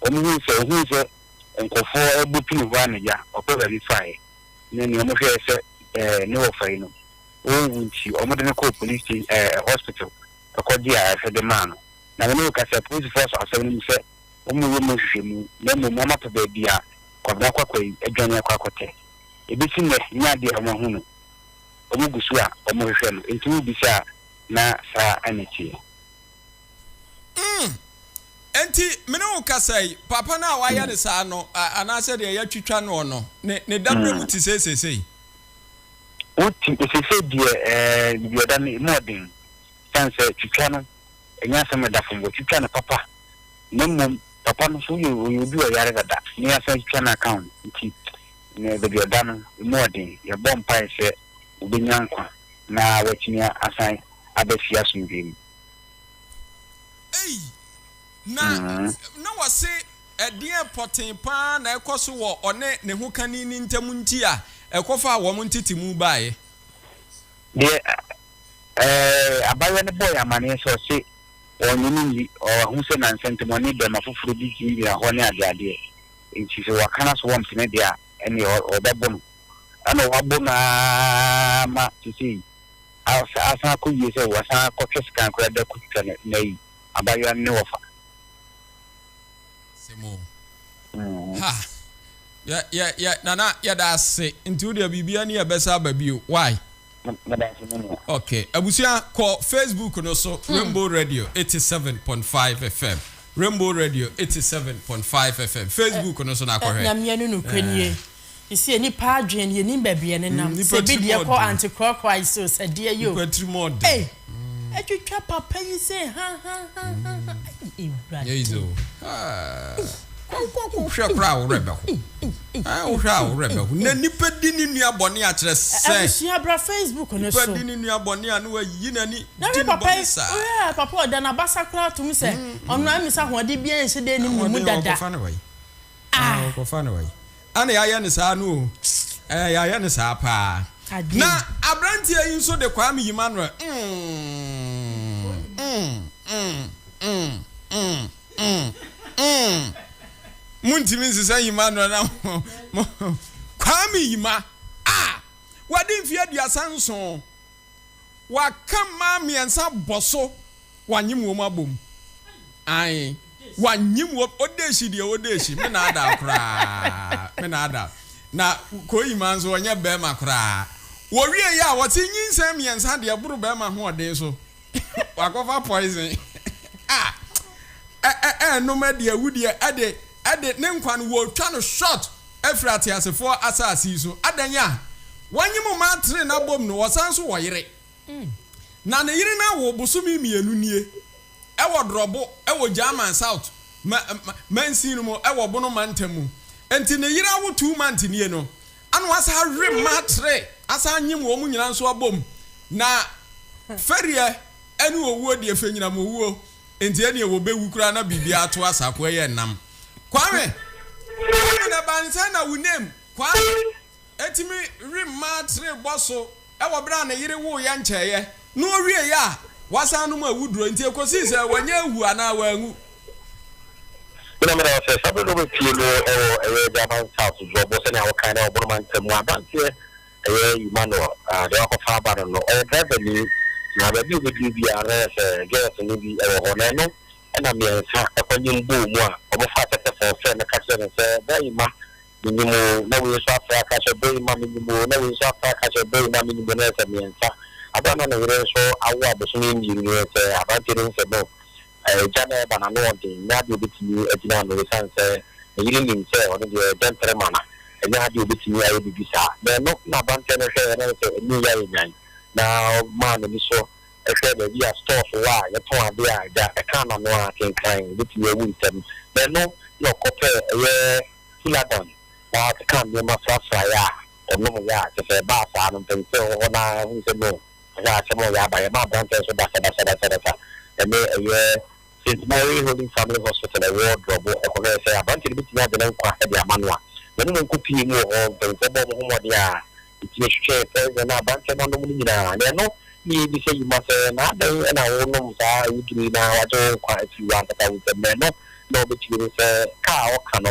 Wɔhui sɛ ohuu sɛ nkurɔfoɔ abu pini hɔ anagya ɔpɛ baabi faeɛ ne nea wɔhwɛɛ sɛ ɛɛ ne wɔfa yi no ɔnwu nti wɔde no kɔɔ police sta ɛɛ hospital kɔgyee ayarehwɛde maa no na me ne wo kasa polisifoɔ asɔ asɛm no mu sɛ wɔreyɛ mu nhwehwɛmu na mmom wɔapɛ baabi a Kwabena Kwakwa yi adwane akɔ akɔtɛ ɛbɛsi nnɛ nyɛ adeɛ a wɔahu no wɔgu so a wɔhwehwɛ no nti wobisaa na saa na ɛteɛ. Mm, enti me ne wo kasa yi, papa no a wɔayɛ no saa no, anaa sɛdeɛ yɛatwitwa noɔ no, ne, ne daberɛ mu te sɛ seesei? Wote, ɛsɛ sɛ deɛ, ɛɛ, deɛ ɛda no mu ɔden, sane sɛ twitwa no, ɛnyɛ asɛm a ɛda fam, wɔtwitwa no papa, na mmom, papa no nso, woyɛ, ɔyɛ obi a ɔyare dada, na yɛasan atwitwa no aka ho, enti, ne, baabi a ɛda no, emu ɔden, yɛbɔ mpae sɛ ɔbɛnya nkwa, na watumi asan aba fie asomdwoeɛ mu. Ei, na mm-hmm. na wɔse ɛdeɛ pɔtee paa na ɛkɔ so wɔ ɔne ne ho kani ne ntam nti a ɛkɔfa a wɔn ntete mu baeɛ. deɛ ɛɛ abayɛ no bɔɔ yɛ amaneɛ sɛ ɔse ɔnye ne nyi ɔho sɛ na nsɛntɛmɔne bɛma foforɔ bi gyinagyina hɔ ne adeadeɛ nti sɛ wakana so wɔm sene deɛ a ɛne ɔbɛbo no ɛna ɔwabo no ara ma sesei Asa asan akɔ yie sɛ wasan akɔtwe sekan koraa de akɔtwitwa no nnɛ yi abaayewa no ne wɔfa. Asɛm o. Ha! Yɛ, yɛ, yɛ, Nana, yɛda ase. Nti wo deɛ biribiara ni a ɛbɛsa aba bio. Why? Meda ase, me nua. Ok. Abusua, kɔ Facebook no so, Rainbow Radio 87.5 FM. Rainbow Radio 87.5 FM. Facebook no so na kɔhwɛ. Ɛɛ, Ɛɛ. Ese nnipa adwen yɛnim baabi ɛnenam sɛ ebi deɛ kɔ antekorɔkorɔae so sɛ deɛ yo ei atwitwa papa yi sɛ hahahahaha ei awurade Kɔnkɔ kɔhwɛ koraa a wo werɛ bɛho. Ɛɛ wohwɛ a wo werɛ bɛho. Na nipa di ne nua bɔne a kyerɛ sɛ. Abusua bra Facebook no so. Nipa di ne nua bɔne a na wayi n'ani di ne bɔne saa. Wohwɛ papa ɔda n'abasa koraa tom sɛ ɔno amisa ahoɔden biara nhyɛ dɛ nim ne mu dada. Ah! Ɔkɔfa no wai? Ɛna yɛayɛ no saa no o. Ɛɛ, yɛayɛ no saa paa. Na aberanteɛ yi nso de Kwame Emmanuel. Montumi nsesa Emmanuel na mo. Kwame Yima a wadi mfeɛ aduasa nson. Wɔaka mmaa mmiɛnsa bɔ so, wɔanyem wɔn abom. Ae, wɔanyem wɔn. Odeshi deɛ, Odeshi, me na ada koraa, me na ada. Na Koima nso, ɔnyɛ barima koraa. Wɔwieeɛ a, wɔte nyinsɛn mmiɛnsa deɛ ɛboro barima hoɔden so. Wɔakɔfa poison a ɛnnom adi, awu deɛ, ɛde. de ne nkwa no wɔretwa no short afiri ateasefoɔ asase yi so. Adɛn a? Wɔnye mo mmaa tene no abom no, wɔsan nso wɔ yere. Na ne yere no awo bosome mmienu nie wɔ Drɔbo wɔ German South mansin no mu wɔ Bono mantam mu. Enti ne yere awo two months nie no, ana wɔasan awe mmaa tene asan nye wɔn nyinaa nso abom. Na fɛreɛ ne owuo deɛ, fɛnyinam owuo. Enti ɛneɛ wɔbɛwu koraa na biribiara ato asa ko ɛyɛ nam. Kwame! Kwame na ɛba no sɛn na wo name Kwame tumi remma tire bɔ so wɔ berɛ a ne yere woeɛ nkyɛeɛ na ɔwieeɛ a wasan nom awuduro nti ɛkɔsii sɛ wanya awu anaa wanwu? Me na meda wo ase. Saa berɛ no wobɛtie no wɔ ɛyɛ Agyaman South Dwoɔbo sɛnea wokae na wɔbɔ no Mantam mu aberanteɛ. Ɛyɛ Emmanuel a deɛ wakɔfa aba no no, ɔyɛ driverni na baabi a ɔbɛduru biara no, ɔyɛ sɛ girls no bi wɔ hɔ na ɛno na mmiɛnsa kɔnyem bɔɔ mu a wɔfaa tɛtɛfon frɛɛ no ka kyerɛɛ no sɛ, Boy Emma, menyem oo, na wei nso afrɛ aka sɛ, Boy Emma, menyem oo, na wei nso afrɛ aka sɛ, Boy Emma, menyem oo, na ɛyɛ sɛ mmiɛnsa. Berɛ a na ne yere nso awo abosome mmienu no, ɛyɛ sɛ aberanteɛ no hu sɛ no, Agya no reba no, ano yɛ den. Ɛnyɛ ade a obetumi agyina ano esiane sɛ ne yere nim sɛ ɔno deɛ ɔyɛ dɛmprɛma na ɛnyɛ ade a obetumi ayɛ biribi saa. Na ɛno na aberanteɛ no hwɛeɛ na ɔhuu sɛ ɛnyɛ yei ayɛ nyan, na ɔmaa n'ani so hwɛɛ baabi a stores wɔ a yɛtɔn adeɛ a agya kaa n'ano ara kenkan obetumi awu ntɛm. Na ɛno na ɔkɔpɛɛ ɛyɛ Fuladan na ɔkeka nneɛma frafraeɛ a ɔnomeeɛ a kyerɛ sɛ ɛbaa saa no mpanyinfoɔ a ɛwɔ hɔ no ara huu sɛ no, Saa asɛm a ɔyɛ aba yɛ ma aberanteɛ nso basabasabasabasa. Ɛnnɛ ɛyɛ Saint Mary Holy Family Hospital a ɛwɔ Drɔbo ɛkɔhwɛɛ sɛ aberanteɛ no bɛtumi agye ne nkwa de ama no a, yɛne no nko pue mu wɔ hɔ. Mpaninfoɔ bɔɔ wɔn ho mmɔden a ɛtumi hwehwɛɛ poison a aberanteɛ no anom no nyinaa. Deɛ ɛno ne yɛn bisa yi ma sɛ, na adɛn na wonom saa awuduro yi na wɔagye wo nkwa afiri w'ankasa wo nsam? Na ɛno na ɔbɛtumi hu sɛ ka a ɔka no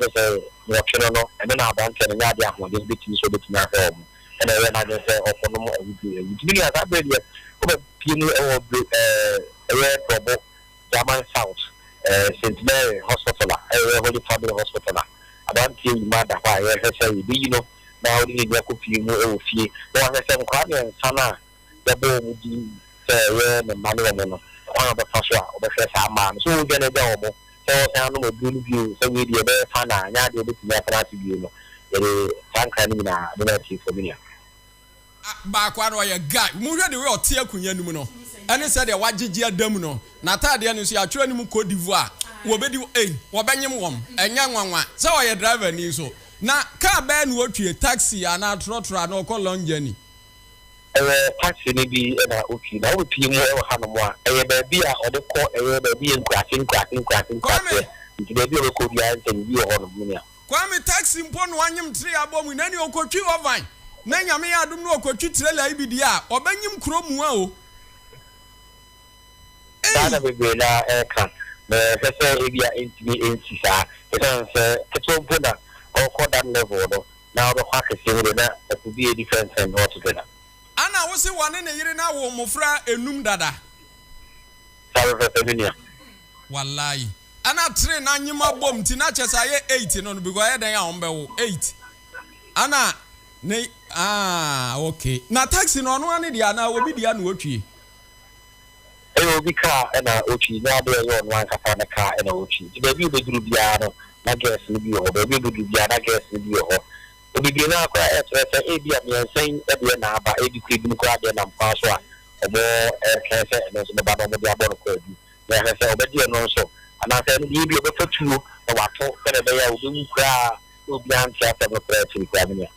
ne sɛ nnwɔtwe no no ɛno na aberanteɛ no nyɛ adeɛ a ahoɔden bɛtumi sɛ ɔbɛtumi ahwɛ wɔn ɛna ɛyɛ n'adwene sɛ ɔkɔnom awuduro ɛwɔ ntumi nua saa berɛ deɛ ɔbɛpie mu ɛwɔ bere ɛɛ ɛyɛ prɔbo German south ɛɛ Saint Mary hospital a ɛyɛ Holy Family hospital a aberanteɛ yi ma da hɔ a yɛhwɛ sɛ yɛbɛyi no na ɔde n'ani akɔ pie mu ɛwɔ fie na wahwɛ sɛ nkwadaa mmiɛnsa no a yɛbɔ wɔn din sɛ ɛyɛ ne mma ne wɔn no, kwan a ɔbɛfa so a ɔbɛhwɛ saa mma no. Sɛ ɔredwanagya wɔn, sɛ ɔresan anom aduro no bio, sɛ wei deɛ ɛbɛyɛ fa na ɛnyɛ adeɛ a ɔbɛtumi atena ase bio no, yɛde saa nkra no nyinaa bɛma atiefoɔ, me nua. A Baako ara no, ɔyɛ guy. Monhwɛ the way ɔte akonwa no mu no, ɛne sɛdeɛ wagyegye ada mu no. N'ataadeɛ no nso, yɛatwerɛ anim Côte d'Ivoire. Wɔbɛdi wo ei, wɔbɛnyem wɔn. Ɛnyɛ nwanwa. Sɛ ɔyɛ driver ni nso, na kaa bɛn na ɔtwie, taxi anaa trɔtrɔ anaa ɔkɔ long journey. ɛyɛ taxi no bi na ɔtwi, na wobɛpie mu wɔ hanom a, ɛyɛ baabi a ɔde kɔ, ɛyɛ baabi yɛ nkuraase nkuraase nkuraase nkuraseɛ, nti baabi a ɔbɛkɔ biara nsɛ biribi wɔ hɔnom, me nua. Kwame, taxi mpo na wanyem tray abɔ mu, na nea ɔkɔtwi wɔ van, na Nyame yɛ adom na ɔkɔtwi trailer yi bi deɛ a, ɔbɛnyem kuro mua o. Saa na bebree no ara ɛreka, na ɛhwɛ sɛ ebia ɛntumi ɛnsi saa, ɛsiane sɛ ketewa mpo na ɔrekɔ that level no, na ɔbɛkɔ akɛseɛ mu deɛ, na ɛpo bi a ɛdi fɛmfɛm no ɔte dada. Ana wo se wɔne ne yere no awo mmofra nnum dada? Saa pɛpɛpɛ me nua. Walayi. Ɛna three na nyema bom nti na kyɛ sɛ ayɛ eight no no because ɛyɛ dɛn a wɔn bɛwo eight. Ɛna ne ah okay. Na taxi no ɔno ara ne deɛ anaa obi deɛ na otwie? Ɛyɛ obi kaa ɛna otwi, ne ade a ɛyɛ ɔno ankasa ne kaa ɛna otwi. Nti baabi a obeduru biara no, na girls no bi wɔ hɔ. Baabi a obeduru biara, na girls no bi wɔ hɔ. Bebree no ara koraa ɛkyerɛ sɛ ebia mmiɛnsa yi deɛ na aba, ebi koraa ebinom koraa deɛ nam kwan so a wɔretwɛn sɛ ɛno nso bɛba na wɔde abɔ no kwaadu, na yɛahwɛ sɛ ɔbɛgye ɛno nso, anaasɛ ɛno deɛ ebia ɔbɛfa tuo na wato sɛdeɛ ɛbɛyɛ a obewu koraa na obiara nte asɛm no koraa akyiri koraa. Me nua.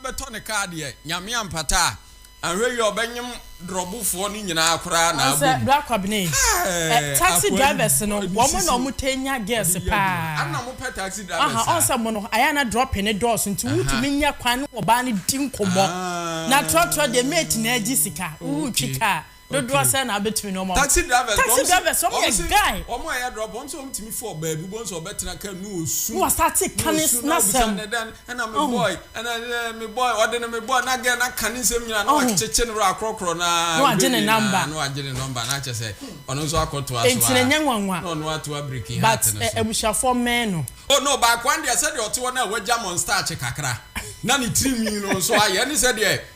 bɛtɔ ne kaa deɛ nyame ampata a anhwɛ wie ɔbɛnyem drɔbofoɔ no nyinaa koraa na abɔ mu ɛɛɛɛ taxi drivers no wɔn na wɔn tɛ nya girls paa ɛna mo pɛ taxi drivers saa ɔn sɛ mo no ayɛ na dropping no dɔɔso nti wo tumi nya kwan ne ɔbaa no di nkɔmɔ na trɔtrɔ deɛ mate na agye sika wo twi kaa dodoɔ sɛn na wobɛtumi ne wɔn ama taxi drivers taxi drivers wɔn yɛ guy wɔn a ɛyɛ drop wɔn sɛ wɔn tumi fɔ baabi wɔn sɛ wɔbɛtena kaa mu osu na wɔsate kane n'asɛm ɛna me boy ɛna me boy ɔde ne me boy na gɛ na kane nsɛm nyinaa na wakyekye ne wura akorɔkorɔ na na wagye ne namba na wagye ne namba na akyɛ sɛ ɔno nso akɔto aso a nti na nyɛ nwanwa na ɔno ato abiriki ha ate ne so abusuafoɔ mmɛn no oh no baako andeɛ sɛdeɛ ɔte hɔ no a wagya mɔ nstaakye kakra na ne tirinwi no nso ayɛ ne sɛdeɛ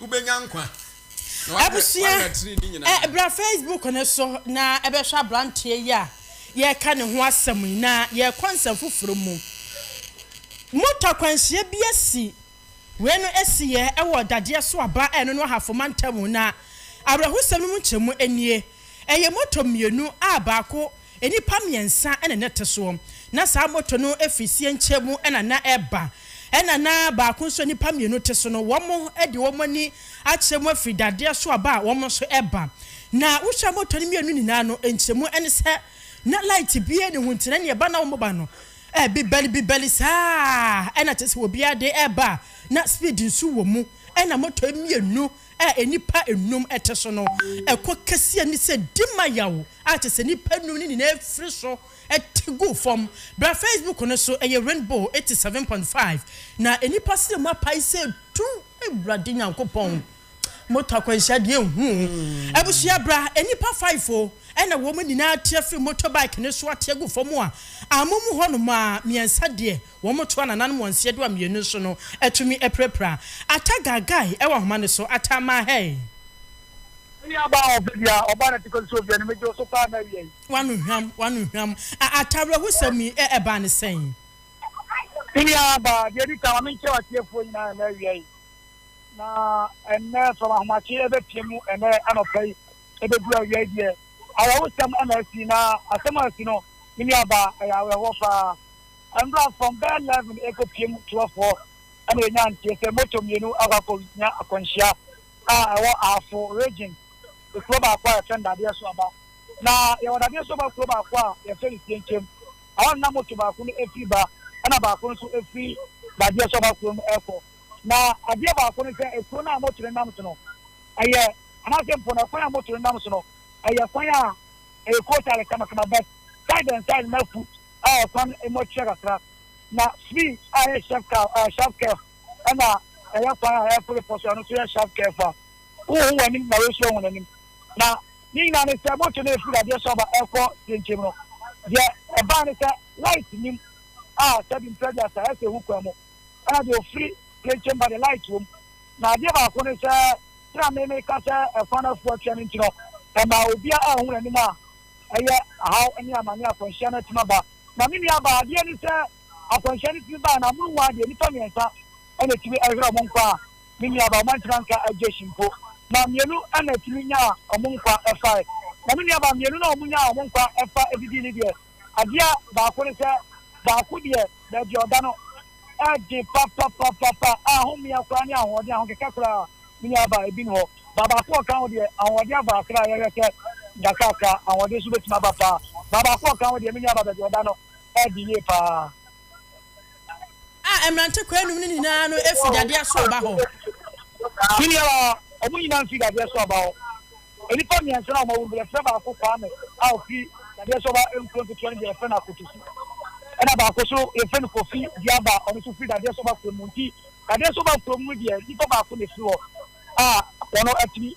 Wobɛnya nkwa, na woayɛ Abusua, woayɛ tiri ne nyinaa. ɛ, bra Facebook no so na bɛhwɛ aberanteɛ yi a yɛreka ne ho asɛm yi, na yɛrekɔ nsɛm foforɔ mu. Moto akwanhyia bi asi. Wei no asiiɛ wɔ dadeɛ so aba a ɛno no Ahafo mantam, na awerɛhosɛm no mu nkyɛmu nie, ɛyɛ moto mmienu a baako Nnipa mmiɛnsa na na ɛte soɔ. Na saa moto no firi sienkyɛ mu na na ɛreba. Ɛna na baako nso a nnipa mmienu te so no, wɔn de wɔn ani akyerɛ mu afiri dadeɛ so aba a wɔn nso reba. Na wohwɛ moto no mmienu nyinaa no, nkyerɛmu ne sɛ na light biara nni ho, nti na deɛ ɛba na wɔba no bibɛli bibɛli saa na kyerɛ sɛ obiara de reba a na speed nso wɔ mu. Ɛna moto mmienu a nnipa nnum te so no, ɛkɔ kɛseɛ ne sɛ di ma yaw. a kyerɛ sɛ nnipa nnum no nyinaa firi so te guu fam. Bra Facebook no so, ɛyɛ Rainbow eighty seven point five, na nnipa sɛ mu apae sɛ du. Awurade Nyankopɔn, moto akwanhyia deɛ nhu o. Abusua bra, nnipa five o, ɛna wɔn nyinaa te afiri motor bike no so ate agu fam a, amu mu hɔ nom a mmiɛnsa deɛ wɔn to anananom wɔn seɛ do a mmienu nso no atumi apirapira. Ata Gagae wɔ ahoma no so, Ata Mahey. Me nua baa hɔ ɔfɛ bia, ɔbaa na ti kɔ susuo bia no megye wo so paa na awia yi. Wano hwam, wano hwam, a a tawere ho sɛm yi ɛ ɛbaa ne sɛn? Me nua baa, deɛ ɛdi kan ma menkyerɛ w'atiefoɔ nyinaa ɛnɛ awia yi, na ɛnɛ from ahomakye ɛbɛpie mu ɛnɛ anɔpa yi ɛbɛduru awia yi deɛ awerɛho sɛm ɛna asi na asɛm a asi no me nua baa ɛyɛ awerɛhoɔ paa. Ɛnora from bɛɛ 11 ɛkɔ pie mu 12 hɔ ɛna yɛnya nteɛ sɛ motor mmienu akɔ akɔ nya akwanhyia. a ɛwɔ Afo Region, kuro baako a yɛfrɛ no Dadeɛ Soaba. Na yɛwɔ Dadeɛ Soaba kuro baako a yɛfrɛ no Sienkyem. Ɛhɔ no na moto baako no firi ba ɛna baako no nso firi Dadeɛ Soaba kuro no rekɔ. Na adeɛ baako ne sɛ kuro no a moto no nam so no, ɛyɛ anaasɛ mpo no kwan a moto no nam so no, ɛyɛ kwan a ɛyɛ kootaale kamakama but side and side no na foot a kwan mu atua kakra. Na Svi a ɛyɛ Shevkov, Shevkov, ɛna ɛyɛ kwan a ɛreforo po so, ɛno nso yɛ shaf kefa. Wohu w'anim na wosu ahu n'anim. Na ne nyinaa ne sɛ, moto no a ɛfiri dadeɛ so aba ɛrekɔ deɛ nkyɛn mu no, deɛ ɛbae ne sɛ, light nnim a sɛbi mprɛ aduasa ayɛ sɛ ɛhu kwan mu, ɛna deɛ ɔfiri deɛ nkyɛn mu ba deɛ, light wom. Na adeɛ baako ne sɛ, sɛdeɛ me meka sɛ ɛkwan no afu atua no nti no, ɛma obiara a ɔhu n'anim a ɛyɛ haw ne amane a akwanhyia no atumi aba. Na me nuabaa, adeɛ ne sɛ, Akwanhyia no tumi bae no, amonom mu ara deɛ, nnipa mmiɛnsa na ɛtumi hwerɛɛ wɔn nkwa, a ne nuabaa, wɔn antumi anka Jesse mpo, na mmienu na ɛtumi nyaa wɔn nkwa fae. Na ne nuabaa mmienu no a wɔnyaa wɔn nkwa fa didii no deɛ, adeɛ baako ne sɛ, baako deɛ, baabi a ɔda no den papapapapa, a homea koraa ne ahoɔden, ahokeka koraa ne nuabaa ebi nni hɔ. Baa baako a ɔka ho deɛ, ahoɔden aba kakra, yɛhwɛ sɛ nkakrankakra, ahoɔden nso bɛtumi aba paa. Baa baako a ɔka ho deɛ, me nuabaa baabi a ɔda no, Ɔyɛ ade yie paa. A mmerante kwaa nnum no nyina ara no fi dadeɛ asoɔ ba hɔ. Senior, a wɔn nyinaa fi dadeɛ asoɔ ba hɔ. Nnipa mmiɛnsa no a wɔawu no deɛ yɛfrɛ baako Kwame a ɔfiri dadeɛ asoɔ ba nkuro nketewa no deɛ yɛfrɛ no Akotosi. Ɛna baako nso yɛfrɛ no Kofi Diaba ɔno nso firi dadeɛ asoɔ ba kurom nti dadeɛ asoɔ ba kurom no deɛ nnipa baako na ɛfiri hɔ a wɔn atumi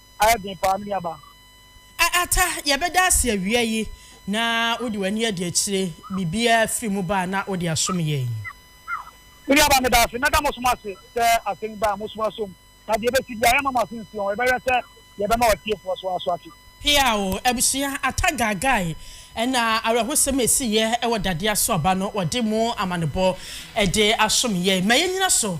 ayɛ den paa, me nuaba. A Ata, yɛbɛda ase awia yi na wode w'ani adi akyire. Biribiara firi mu ba a na wode asom yɛn. Me nuaba, meda ase. Mɛda mo som ase sɛ asɛm yi ba a, mosom asom. Na deɛ ɛbɛsi biara, yɛremma mo ase nsi wɔn. Yɛbɛhwɛ sɛ yɛbɛma atiefoɔ nso aso ate. Hia o, abusua Ata Gaagai na awerɛhosɛm a ɛsiiɛ wɔ dadeɛ aso aba no, wɔde mo amanebɔ de asom yɛn. Ma yɛnnyina so.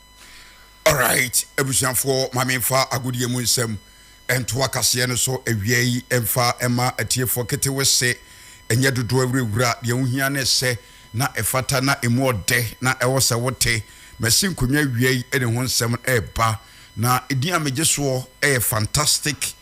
Alright abusuafoɔ ma me mfa agodeɛ mu nsɛm ntoa kaseɛ no so awia yi mfa mma atiefoɔ ketewe se nyɛ dodoɔ awurawura deɛ wo hia ne sɛ na ɛfata na ɛmu ɔdɛ na ɛwɔ sɛ wo te masi nkonnwa awia yi de ho nsɛm reba na din a megye soɔ yɛ fantastic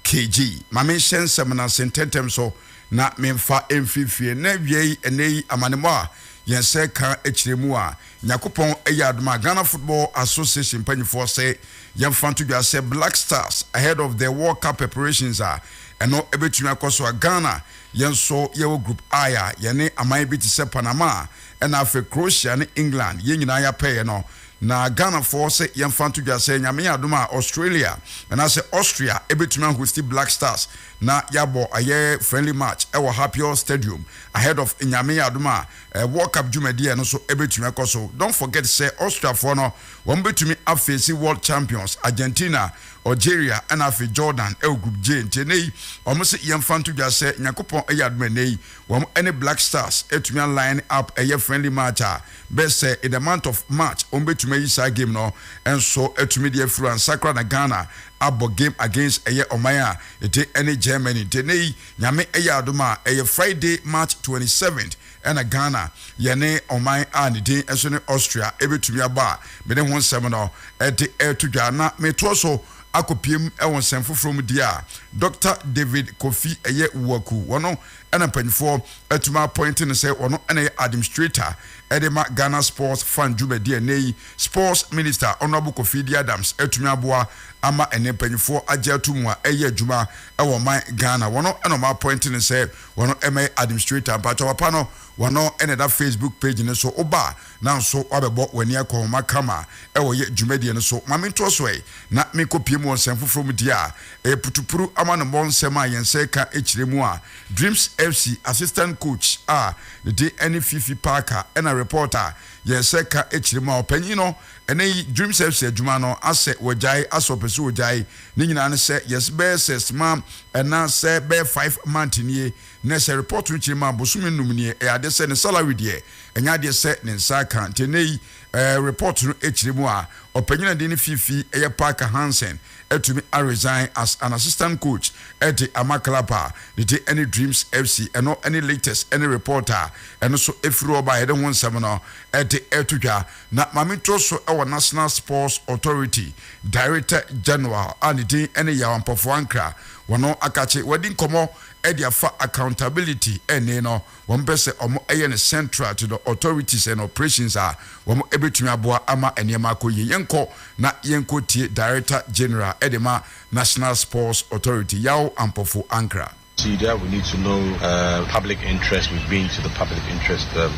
KG, Ma menhyɛ nsɛm no ase ntɛmntɛm so na memfa mfiefie na awiei ɛnnɛyi amanemmɔ a yɛn sɛ ka kyerɛ mu a Nyakopɔn yɛ adom a Ghana Football Association mpanyifoɔ se yɛmfa nto dwa sɛ Black Stars ahead of the World Cup preparations a ɛno ɛbɛtumi akɔ so a Ghana yɛn nso yɛwɔ Group I a yɛne aman bi te sɛ Panama na afei Croatia ne England yɛn nyinaa yɛapɛeɛ no Na Ghanafoɔ sɛ yɛmfa nto dwa sɛ Nyame adom a Australia anaasɛ Austria bɛtumi a hosti Black Stars na yɛabɔ ayɛ friendly match wɔ Happior Stadium ahead of Nyame adom a World Cup dwumadie no so bɛtumi akɔ so. Don't forget sɛ Austriafoɔ no wɔn bɛtumi a face World Champions Argentina, Algeria ɛna afei Jordan wɔ Group J nti ɛnɛ yi wɔn se yɛmfa nto dwa sɛ Nyankopɔn ayɛ adom ɛnɛ yi wɔn ɛne Black Stars atumi a line up ɛyɛ friendly match a bɛ sɛ in the month of March wɔn bɛtumi ayi saa game no nso atumi de afiri ansakra na Ghana abɔ game against ɛyɛ ɔman a ɛte ɛne Germany nti ɛnɛ yi Nyame ɛyɛ adom a ɛyɛ Friday March 27th ɛna Ghana yɛne ɔman a ne din nso ne Austria ɛbɛtumi abɔ a me ne ho nsɛm no ɛde ɛto dwa na me toɔ so akɔ piem ɛwɔ nsɛm foforɔ mu deɛ a Doctor David Kofi ɛyɛ Uwaku wɔn ɛna mpanyinfoɔ atumi apɔinte no sɛ ɔno na ɛyɛ administrator ɛde ma Ghana Sports Fund dwumadie a ɛnɛ yi Sports Minister Honourable Kofi Dee Adams atumi aboa ama ɛnɛ mpanyinfoɔ agye ato mu a ɛyɛ adwuma ɛwɔ ɔman Ghana wɔn na wɔn apɔinte no sɛ wɔn ɛmɛyɛ administrator mpakyɛ papa no wɔn ɛna ɛda Facebook page no so woba Nanso woabɛbɔ w'ani akɔ wɔn akama a wɔyɛ dwumadie no so. Ma mentoɔ so ɛ na menkɔpue mu wɔ nsɛm foforɔ mu deɛ a ɛyɛ putupuru amanobɔ nsɛm a yɛn nsa ɛka kyerɛ mu a Dreams FC assistant coach a ne din ɛne Fifi Parker ɛna report a yɛn nsa ɛka kyerɛ mu a ɔpanyin no ɛnɛ yi Dreams FC adwuma no asɛ wagyae asɛ ɔpɛ sɛ ɔgyae ne nyinaa ne sɛ yɛse bɛyɛ sɛ sma ɛna sɛ bɛyɛ five month nie Na sɛ report no kyerɛ mu a bosome nnum nie, ɛyɛ adeɛ sɛ ne salary deɛ ɛnyɛ adeɛ sɛ ne nsa aka. Nti ɛnnɛ yi ɛɛ report no kyerɛ mu a ɔpanyin a din no Fifi yɛ Parker Hansen atumi a resign as an assistant coach de ama club a ne din ɛne Dreams FC. Ɛno ɛne latest ɛne report a ɛno nso firi hɔ ba a yɛde ho nsɛm no ɛde ɛreto dwa. Na Maame Ntoɔ so ɛwɔ National Sports Authority Director General a ne din ɛne Yaw Ampɔfoɔ Ankra, wɔn akakye wadi nkɔmmɔ ɛde afa accountability ɛne no wɔn pɛ sɛ wɔn ɛyɛ no central to the authorities and operations a wɔn ɛbɛtumi aboa ama nneɛma akɔ yie yɛn kɔ na yɛn kɔ tie director general ɛde ma national sports authority yaw ampɔfo ankra. Nti deɛ we need to know public interest we've been to the public interest.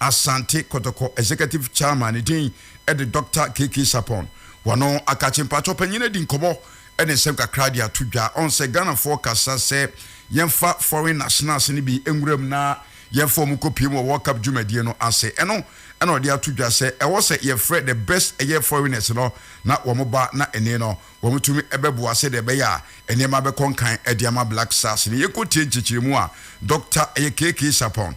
Asante Kotoko Executive Chairman ne din de Dɔkta KK Sarpong. Wɔno akakye mpakyɛw panyin adi nkɔmmɔ ne nsɛm kakra de ato dwa. Ɔn sɛ Ghanafoɔ kasa sɛ yɛmfa foreign nationals no bi nwura mu na yɛmfa wɔn nkɔ pue mu wɔ World Cup dwumadie no ase. Ɛno na ɔde ato dwa sɛ ɛwɔ sɛ yɛfrɛ the best ɛyɛ foreigners no na wɔn ba na ɛne no wɔn tumi bɛboa sɛdeɛ ɛbɛyɛ a nneɛma bɛkɔ nkan de ama Black Stars no. Yɛnkɔ tie nkyekyeremu a Dɔkta ɛyɛ KK Sarpong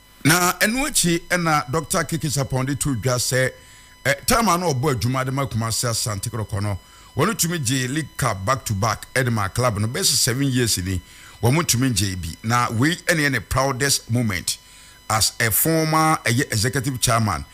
Na ɛno akyi na Dɔkta Keke Sarpong de too dwa sɛ taam a na ɔbɔ adwuma de ma Kumasi Asante Kɔtɔkɔ no, wɔtumi gyee League Cup back to back de maa club no. Bɛsi seven years ni, wɔntumi ngyee bi, na wei ne yɛ ne proudest moment as a former ɛyɛ Executive Chairman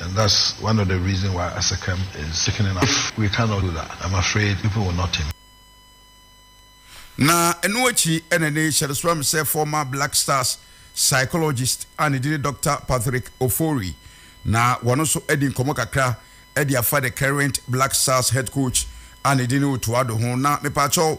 And that's one of the reason why Asekem is sickening us. If we cannot do that, I'm afraid people will not him. Na ɛno akyi ɛna ne hyɛde so am sɛ former Black Stars psychologist a ne din ne Doctor Patrick Ofori na wɔn nso adi nkɔmmɔ kakra de afa the current Black Stars head coach a ne din ne Otto Addo ho. Na mepaakyɛw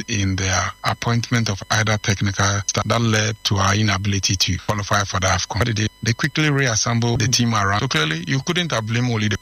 interest in the appointment of either technical staff that led to our inability to qualify for the Afcon. What did they do? They quickly reassembled the team around. So clearly you couldn't have blamed only the.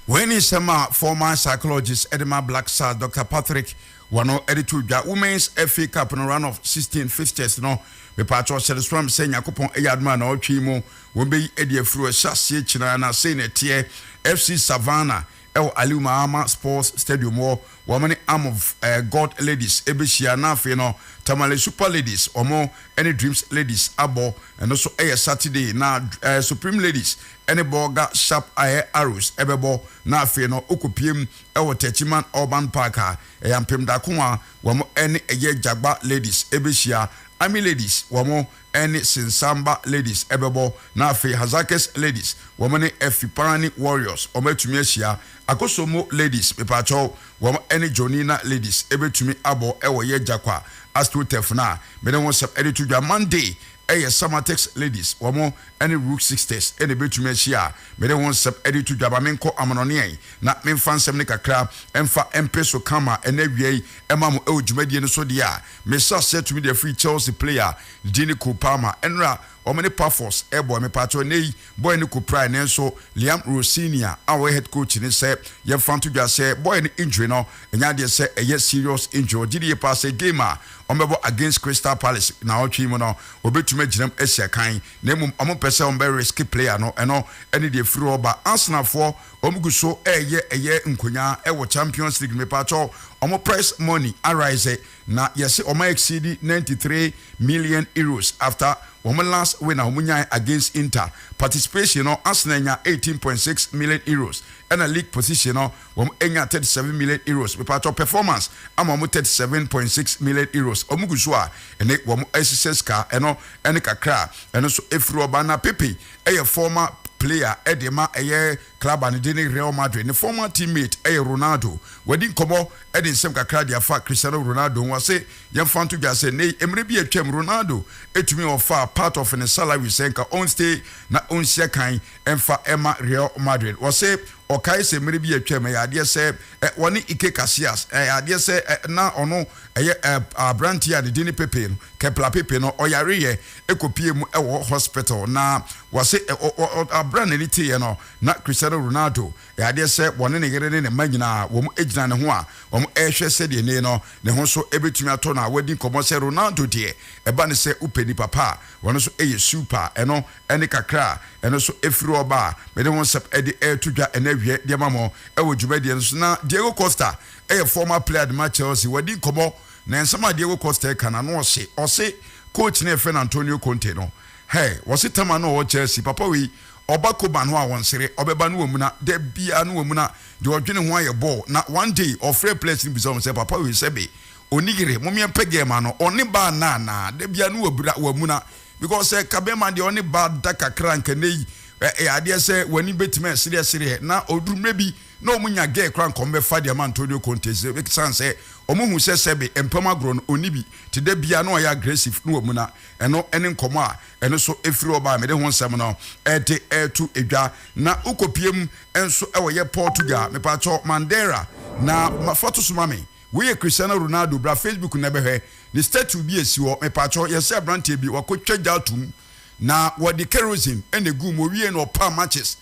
Wei ne nsɛm a former psychologist de ma Black Stars Doctor Patrick Wano de too dwa. Women's FA Cup no round of 16 fixtures no, mepaakyɛw hyɛ no soram sɛ Nyakopɔn yɛ adom a naawɔtwe yi mu wɔbɛyi adi afiri hɔ ɛhyɛ aseɛ kyinaa na sei na ɛteɛ. FC Savannah ɛwɔ Aliu Mahama Sports Stadium hɔ, wɔn ne Amov Gold Ladies bɛhyia na afei no Tamale Super Ladies wɔn ne Dreams Ladies abɔ, ɛno nso yɛ Saturday, na Supreme Ladies ne Bolga Sharp Air Arrows bɛbɔ na afei no wokɔpiem wɔ Techiman Urban Park a ɛyɛ Ampem Darko a wɔn ne ɛyɛ Jagba Ladies bɛhyia. Army Ladies wɔn ne Sinsamba Ladies bɛbɔ, na afei Hazakes Ladies wɔn ne Efiparani Warriors wɔn atumi ahyia. Akosombo Ladies, mepaakyɛw, wɔn ne Jonina Ladies bɛtumi abɔ wɔ yɛ Jakwa Astroturf no a me ne ho nsɛm de to dwa. Monday yɛ Samatex Ladies wɔn ne Rook Sisters na ɛbɛtumi ahyia a me ne ho nsɛm de to dwa. Ma menkɔ amanɔneɛ na memfa nsɛm no kakra mfa mpeso kama ɛnnɛ awia yi ma mo wɔ dwumadie no so deɛ a. Me nhyɛ aseɛ tumi deɛ firi Chelsea player din ne Cole Palmer ɛnora wɔn ne Pafos ɛbɔɛ me pakyɛw ɛnɛ yi bɔɛ no ko praɛ nanso Liam Rosenior a ɔyɛ head coach ne sɛ yɛnfa nto dwa sɛ bɔɛ no injury no ɛnyɛ adeɛ sɛ ɛyɛ serious injury ɔgye die paa sɛ game a wɔn bɛbɔ against Crystal Palace naawɔtwe yi mu no ɔbɛtumi agyinam asi akan na mmom wɔn mpɛ sɛ wɔn bɛ risk player no ɛno ɛne deɛ firi hɔ ba Arsenal foɔ Wɔn gu so ɛyɛ ɛyɛ nkonya ɛwɔ champions league no mepakyɛw wɔn price money arise na yɛse wɔn a exceed ninety three million euros after wɔn last win a wɔn nyae against inter participation no arsenal anya eighteen point six million euros ɛna league position no wɔn anya thirty seven million euros mepakyɛw performance ama wɔn thirty seven point six million euros wɔn gu so a ɛne wɔn ɛhyehyɛ sika ɛno ɛne kakra a ɛno nso efiri hɔ ba na pepe yɛ former player de ma ɛyɛ club a ne din ne Real Madrid. Ne former team mate yɛ Ronaldo. Wɔadi nkɔmmɔ de nsɛm kakra de afa Cristiano Ronaldo ho. Ɔse, Yɛmfa nto dwa sɛ nnɛyi mmere bi a atwam Ronaldo tumi ɔfaa part of ne salary sɛ nka ɔnstay na ɔnsia kan mfa mma Real Madrid. Ɔse, Ɔkae sɛ mmere bi a atwam ɛyɛ adeɛ sɛ wɔne Ike Casillas, ɛyɛ adeɛ sɛ na ɔno ɛyɛ aberanteɛ a ne din ne Pepe no, Kepler Pepe no, ɔyareeɛ. ɛkɔpie mu wɔ hospital na wɔse berɛ a n'ani teeɛ no na Cristiano Ronaldo yɛ adeɛ sɛ wɔne ne yere ne ne mma nyinaa wɔn gyina ne ho a wɔrehwɛ sɛdeɛ nei no ne ho nso bɛtumi atɔ no a wɔadi nkɔmmɔ sɛ Ronaldo deɛ ɛba ne sɛ wopɛ nipa pa a ɔno nso yɛ super a ɛno ne kakra a ɛno nso firi hɔ ba a mede ho nsɛm de reto dwa ɛnɛ awiɛ de ama mo wɔ dwumadie no so na Diego Costa yɛ former player de ma Chelsea wɔadi nkɔmmɔ Na nsɛm a Diego Costa ɛka no ano ɔhye, ɔse coach no a yɛfrɛ no Antonio Conte no, hey, wɔse Tama no a ɔwɔ Chelsea, papa wei, ɔba Koban hɔ a ɔnsere, ɔbɛba na wamuna, da biaa na wamuna, deɛ ɔdwene ho ara yɛ bɔɔl, na one day ɔfrɛɛ players no bisaa wɔn sɛ papa wei sɛbe ɔnni yere, momeɛ mpɛ girl ma no, ɔne ba nna anaa, da biaa na wabira, wamuna, because sɛ ɛka bɛɛma deɛ ɔne ba da kakra a nka nnɛ yi, eh, ɛyɛ adeɛ sɛ w'ani bɛtumi asereɛsereɛ, na ɔduru mmerɛ bi, na wɔn nya gɛɛ koraa nka wɔn bɛfa de ama Antonio Conte ɛsiane sɛ wɔn hu sɛ sɛbe mpam agorɔ no ɔnni bi te dɛ biaa na ɔyɛ aggressive na wamuna ɛno ne nkɔmmɔ a ɛno so ɛfiri hɔ baa mede ho nsɛm no ɛde ɛto dwa na wokɔpiem nso wɔ yɛ Portugal mepaakyɛw Mandera na fa to so ma me wei yɛ Cristiano Ronaldo bra Facebook na bɛhwɛ ne statue bi ɛsi hɔ mepaakyɛw yɛsɛ abranteɛ bi wakɔtwa gya atom na wɔde kerosene ɛna ɛgu mu ɔwiee na ɔpaa matches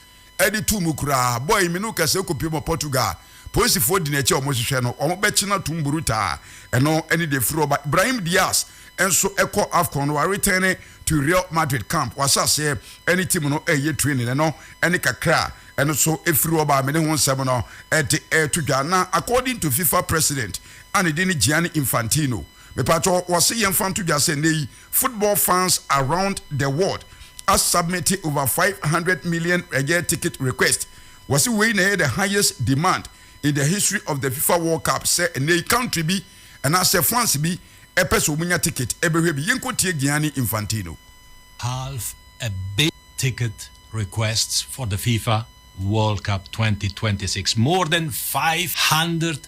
de too mu koraa. Boy yi, me ne wo kasa kɔpue ma Portugal polisifoɔ di n'akyi a wɔhwehwɛ no. Wɔbɛkye no atom burutaa. Ɛno ne deɛ ɛfiri hɔ ba. Brahim Diaz nso kɔ Afcon no, waretɛne to Real Madrid camp. Wahyɛ aseɛ ne team no reyɛ training. Ɛno ne kakra a ɛno nso ɛfiri hɔ ba a me ne ho nsɛm no de reto dwa. Na according to fifa president a ne din ne Gianni Infantino, mepatwɔ, wɔse yɛmfa nto dwa sɛ nnɛ yi, Football fans around the world a submit over five hundred million ɛyɛ ticket request. Wɔse wei na ɛyɛ the highest demand in the history of the fifa world cup sɛ ɛnnɛ yi country bi anaasɛ fans bi ɛpɛ sɛ ɔmo nya ticket ɛbɛhwɛ bi. Yɛnkɔ tie Gianni Infantino. Half a billion ticket requests for the fifa world cup twenty twenty six, more than five hundred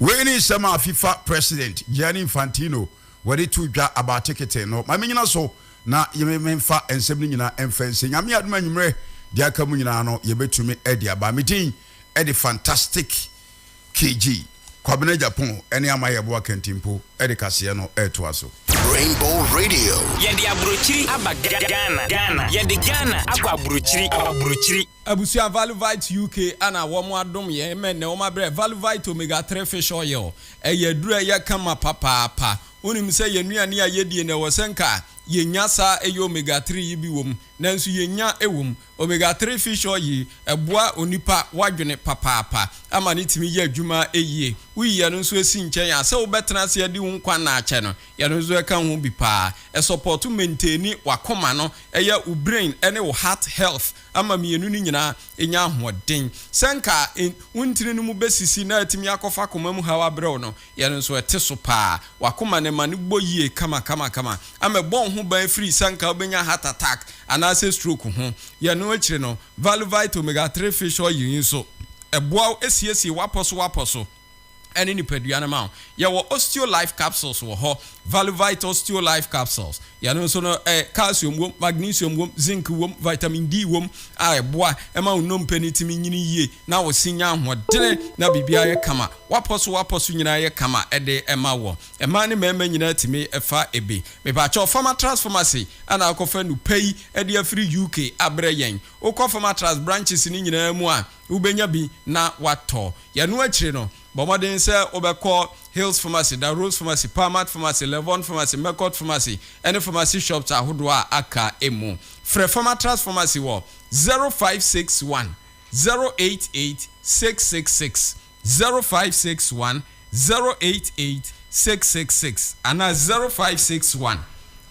Wei ne nsɛm a fifa president Gianni Infantino wɔde too dwa abaa tekete no. Ma mennyina so na memfa nsɛm no nyina mfa nsie. Nyame yɛ adom a anwummerɛ deɛ aka mu nyinaa no yɛbɛtumi de aba. Me din de Fantastic KG. Kwabena Agyapong ne Ama Yeboah Kantimpo de kaseɛ no retoa so. Rainbow Radio. Yɛde aburokyiri aba Ghana. Ghana. Yɛde Ghana akɔ aburokyiri. Aburokyiri. Abusua Valuvite UK a na wɔn adom yɛn ma ɛnnɛ wɔn abrɛ Valuvite Omega Three Fish Oil. Ɛyɛ aduru a ɛyɛ kama papaapa. Wonim sɛ yɛn nnuane a yɛdie no ɛwɔ sɛ nka yɛnya saa ɛyɛ Omega Three yi bi wɔ mu, nanso yɛnnya ɛwɔ mu. Omega Three Fish Oil yi ɛboa onipa w'adwene papaapa ama no tumi yɛ adwuma yie. Woyi ɛno nso ɛsi nkyɛn a, sɛ wobɛtena ase adi wo nkwa nna akyɛ no, ɛno nso ɛka ho bi paa. Ɛsɔpɔto maintaini w'akoma no, ɛyɛ wo brain ne wo heart health. ama mmienu no nyinaa anya ahoɔden. Sɛ anka wo ntini no mu bɛsisi na atumi akɔfa koma mu haw abrɛ wo no, yɛn nso ɛte so paa. W'akoma no, ma no bɔ yie kamakamakama ama ɛbɔ wo ho ban firi sɛ anka wobɛnya heart attack anaasɛ stroke ho. Yɛn no akyiri no, Valuvite Omega Three Fish Oil yi nso, ɛboa wo siesie w'apɔsowapɔso. ne nipadua no ma wo. Yɛwɔ Osteolife capsules wɔ hɔ, Valuvite Osteolife capsules. Yɛno nso no ɛ, calcium wom, magnesium wom, zinc wom, vitamin D wom a ɛboa ma wo nnompe no tumi nyini yie na wo se nya ahoɔdene na biribiara yɛ kama. W'apɔ so w'apɔ so nyinaa yɛ kama de ma wo. Mmaa ne mmarima nyinaa tumi fa bi. Mepa kyɛw, Pharmatras Pharmacy na akɔfa nnupɛ yi de afiri UK abrɛ yɛn. Wokɔ Pharmatras branches no nyinaa mu a, wobɛnya bi na woatɔ. Ɛno akyiri no, bɔ mmɔden sɛ wobɛkɔ Hales Pharmacy, Da Rose Pharmacy, Palmat Pharmacy, Levon Pharmacy, Mecot Pharmacy, ne pharmacy shops ahodoɔ a aka mu. Frɛ Pharmatras Pharmacy wɔ 0561 088 666. zero five six one zero eight eight six six six anaa zero five six one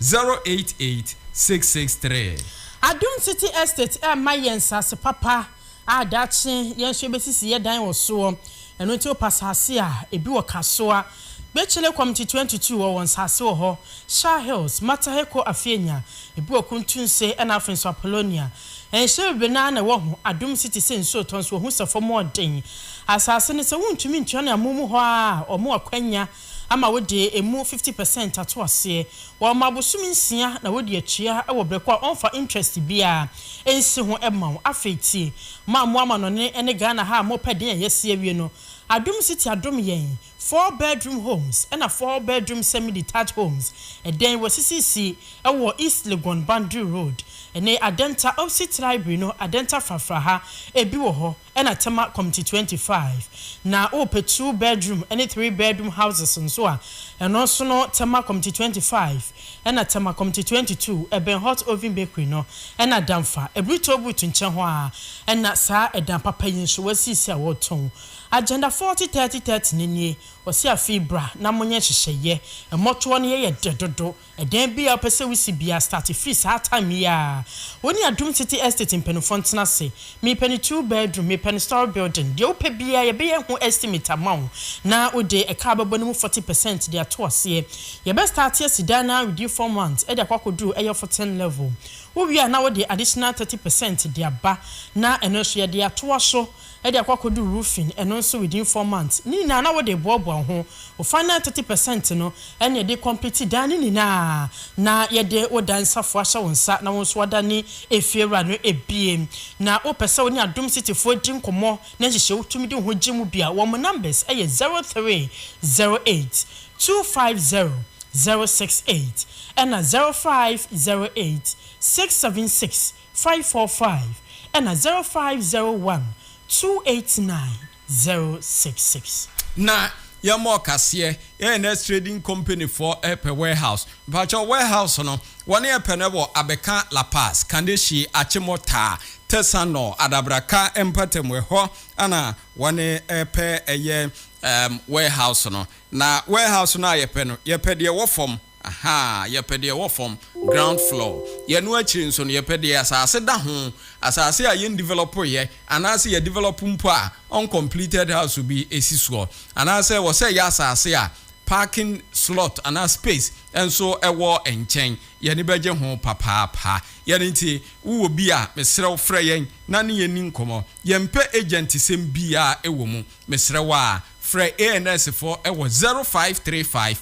zero eight eight six six three. Adum City Estate ɛrema yɛn nsase papa a daakye yɛn nso yɛbɛsisi yɛn dan wɔ soɔ. Ɛno nti wopɛ asase a, ebi wɔ Kasoa, Gbekyele Community twenty two wɔ wɔn nsase wɔ hɔ, Shah Hills, Mataheko Afeanya, ebi wɔ Kuntunse ɛna afei nso Apollonia. Nsow ben ara na ɛwɔ ho, adom nso te sɛ nsuo tɔ nso wɔhu sɛ fam hɔ den. Asase no, sɛ wontumi ntua no amonom hɔ ara a, wɔn akwannya ama wode emu fifty percent ato aseɛ. Wɔma abosom nsia na wode atua wɔ berɛ ko a wɔmfa interest biara nsi ho ma wo. Afei tie, mo a mo amanɔne ne Ghana ha a mopɛ den a yɛasi awie no, adom nso te adom yɛn. Four bedroom homes na four bedroom semi-detached homes dan wɔasisisi wɔ East Legon Boundary Road ne Adenta opposite Library no Adenta Frafra ha, ebi wɔ hɔ na Tema Committee twenty five. Na wopɛ two bedroom ne three bedroom houses nso a, ɛno nso no Tema Committee twenty five na Tema Committee twenty two ɛbɛn Hot Oven Bakery no na Damfa Aburi Toll Booth nkyɛn hɔ ara na saa dan papa yi nso wɔasisi a wɔretɔn. Agenda forty thirty thirty no nie, wɔse afei bra na monyɛ nhyehyɛeɛ, mmɔtoɔ no yɛyɛ dɛ dodo, ɛdan biara wopɛ sɛ wosi biara start firi saa time yi ara, wo ne Adum City Estate mpaninfoɔ ntena ase, mepɛ no two bedroom, mepɛ no storey building, deɛ wopɛ biara yɛbɛyɛ ho estimate ama wo na wode ɛka a wobɛbɔ no mu forty percent de ato aseɛ, yɛbɛ start asi dan no ara within four months de akɔ akɔduru ɛyɛ fourteen level, wowie a na wode additional thirty percent de aba na ɛno nso yɛde atoa so. de akɔ akɔdu roofing, ɛno nso within four months, ne nyinaa na wode reboaboa wo ho, wo final thirty percent no ɛne yɛde recomplete dan no nyinaa na yɛde wo dan safoa ahyɛ wo nsa na wo nso woadane efiewura no ebie. Na wopɛ sɛ wo ne Adom City foɔ di nkɔmmɔ na nhyehyɛe wotumi de wo ho gye mu bi a, wɔn numbers yɛ zero three zero eight two five zero zero six eight ɛna zero five zero eight six seven six five four five ɛna zero five zero one two eight nine zero six six. Na yɛ mɔ kaseɛ yɛ nurse trading company foɔ ɛpɛ warehouse mpakyɛw warehouse no wɔne ɛpɛ no ɛwɔ abɛka la paz kanehyi akyemɔ taa tɛsa nɔ adabraka mpatamu ɛhɔ ɛna wɔne ɛpɛ ɛyɛ ɛɛm warehouse no na warehouse no a yɛpɛ no yɛpɛ deɛ ɛwɔ fam. Ahaa, yɛpɛ deɛ ɛwɔ fam, ground floor. Yɛno akyiri nso no, yɛpɛ deɛ asase da ho, asase a yɛndivelɔpoeɛ, anaasɛ yɛadivelɔpo mpo a, uncompleted house bi si soɔ. Anaasɛ wɔ sɛ ɛyɛ asase a parking slot anaa space nso wɔ nkyɛn. Yɛani bɛgye ho papaapa. Yɛn nti, wowɔ bi a, mesrɛ wo frɛ yɛn na ne yɛnni nkɔmmɔ. Yɛmpɛ agyantisɛm biara wɔ mu. Mesrɛ wo a, frɛ ANS foɔ wɔ 0535.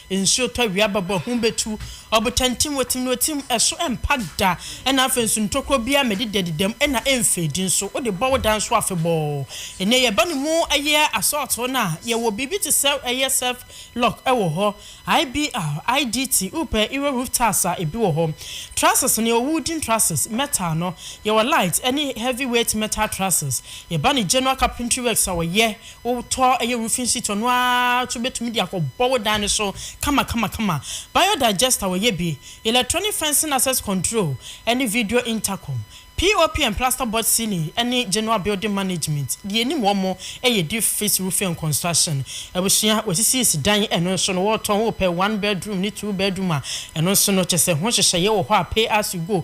Nsuo tɔ, awia bɛbɔ, ahum bɛtu, ɔbotan tim, wɔtim no tim, ɛso ɛmpa da, ɛna afei nso ntokuro biara mɛdidadidam, ɛna ɛmfeedi nso, wode bɔ wo dan so afebɔɔ. Ɛnɛ yɛba ne mu ɛyɛ asɔɔto no a, yɛwɔ biribi te sɛ ɛyɛ surf lock wɔ hɔ, IBR, IDT, wopɛ Euro roof tiles a, ɛbi wɔ hɔ, trusses no yɛwɔ wooden trusses, metal no, yɛwɔ light ɛne heavy weight metal trusses, yɛba ne general carpentry works a wɔyɛ, Wo tɔ ɛyɛ roofing sheet ɔno ara nso bɛtumi de akɔ bɔ wo dan no so kama kama kama. Bio digester wɔyɛ bi, electronic fencing access control ɛne video intercom, POP and plaster board ceiling ɛne general building management deɛ ɛnim wɔn ɛyɛ deep fix roofing and construction. Abusua wɔsisiisi dan ɛno nso no wɔretɔn wopɛ one bedroom ne two bedroom a ɛno nso no kyɛ sɛ ho nhyehyɛeɛ wɔ hɔ a pay as you go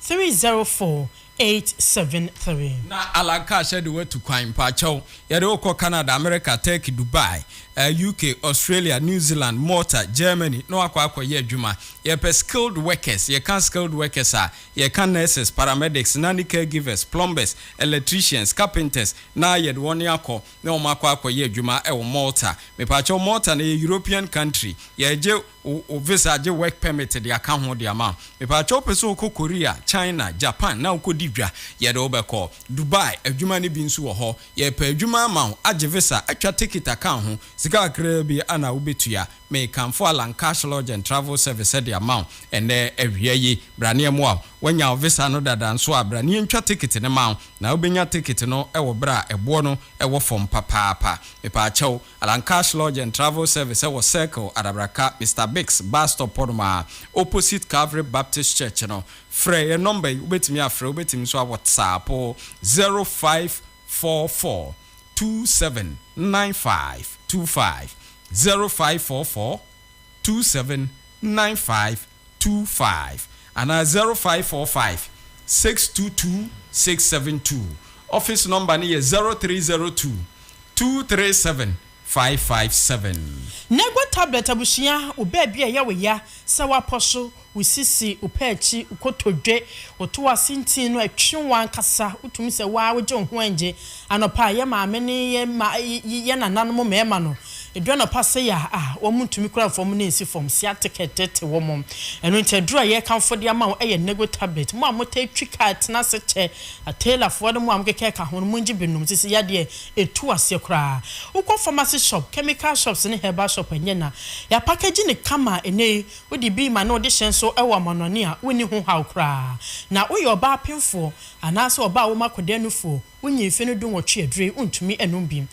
three zero four eight seven three. Na Alan Cash de wo atu kwan. Mpakyɛw, yɛde wo kɔ Canada, America, Turkey, Dubai, UK, Australia, New Zealand, Malta, Germany na woakɔ akɔ yɛ adwuma. Yɛpɛ skilled workers. Yɛka skilled workers a, yɛka nurses, paramedics, nanny caregivers, plumbers, electricians, carpenters na yɛde wɔn akɔ na wɔakɔ akɔ yɛ adwuma wɔ Malta. Mepakyɛw, Malta no ɛyɛ European country. Yɛgye. wo wo visa gye work permit de aka ho de ama wo. Mepakyɛw wopɛ sɛ wokɔ Korea, China, Japan na wokɔdi dwa, yɛde wo bɛkɔ. Dubai, adwuma no bi nso wɔ hɔ. Yɛrepɛ adwuma ama wo, agye visa, atwa ticket aka ho, sika kakraa bi ara na wobɛtua. Mekamfo Allan Cash Lodge and Travel Service de ama wo ɛnnɛ awia yi. Bra na yɛmmoa wo. Woanya wo visa no dada nso a, bra na yɛntwa ticket no ma wo. Na wobɛnya ticket no wɔ berɛ a ɛboɔ no wɔ fam papaapa. Mepakyɛw. Alan Cash Lodge and Travel Service ɛwɔ Circle, Adabraka, Mister Biggs bus stop hɔnom ara, opposite Calvary Baptist Church no. Frɛ yɛn nɔmba yi, wobɛtumi afrɛ, wobɛtumi nso awɔtsaapo, zero five four four two seven nine five two five, zero five four four two seven nine five. two five anaa zero five four five six two two six seven two. Office nɔmba no yɛ zero three zero two two three seven five five seven. Nego tablet abusua wo baabi a ɛyɛ wo ya sɛ woapɔ so, wo sisi, wo pɛ akyi, wo kotodwe, wo to ase ntin no ɛtwe wo ankasa wotumi sɛ wo ara wogye wo ho ɛngye Anɔpa a yɛn maame ne yɛn ma yɛn nananom mmarima no, edu anɔpa sɛɛ a, a wɔn ntumi kura fam na ensi fam, sciatic ɛtete wɔn. Ɛno nti aduru a yɛrekamfo de ama wo yɛ Nego tablet. Mo a motaa twi car tena ase kyɛ tailorfoɔ ne mo a mokeka ka ho no, mongye bi nnom. Sisi yadeɛ etu aseɛ koraa. Wokɔ pharmacy shop, chemical shops ne herbal shop a ɛnyɛ na yɛapakagyi no kama a, ɛnnɛ yi wode bi ma na wode hyɛn so wɔ amanɔne a wonni ho haw koraa. Na woyɛ ɔbaa penfoɔ Anaasɛ ɔbaa wo mu akɔda nufoɔ, wonyi mfe no dunwɔtwe aduree wontumi ɛnom bi.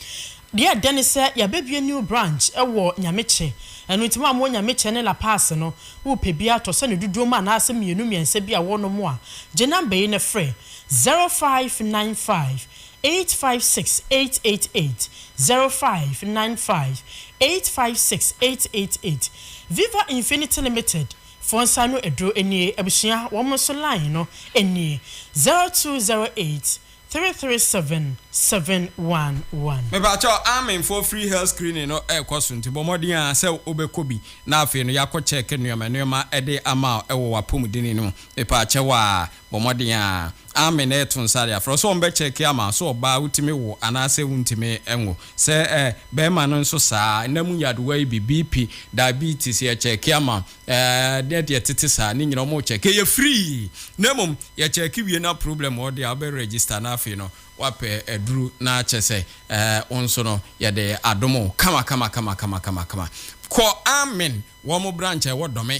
Deɛ ɛdɛ ne sɛ yabɛbue new branch wɔ Nyamekyɛ, ɛno nti mo a mowɔ Nyamekyɛ ne La Paz no, wopɛ bi a tɔ sɛ no dodoɔ mu anaasɛ mmienu mmiɛnsa bi a wɔnom a, gye number yi na frɛ, 0595 856 888, 0595 856 888. Viva Infinity Limited, Foɔ nsa ano aduro nie abusua wɔn nso line no nie zero two zero eight three three seven seven one one. Me pakyɛ wo Amen foɔ free health screening no ɛkɔ so nti bɔ mmɔden aa sɛ wo bɛ kɔ bi na afei no ya kɔ check nnoɔma nnoɔma de ama wo ɛwɔ w'apɔmudene no mu me pakyɛ wo aa Bɔ mmɔden a. Amen na to nsa de afrɛ sɛ wɔbɛkyɛke ama sɛ ɔbaa wotumi wo anaasɛ wontumi nwo. Sɛ ɛ, bɛrima no nso saa. Nna mu nyadewa yi bi, BP, diabetes, yɛkyɛke ama ɛ, ne deɛ ɛtete saa, ne nyinaa wɔkyɛke. Ɛyɛ free. Na mmom, yɛkyɛke wie na problem wɔ deɛ a, wobɛ register na afei no woapɛ aduru na kyɛ sɛ ɛ, wo nso no yɛde adom wo kama kama kama kama kama kama. Kɔ Amen wɔn branch a ɛwɔ Dome.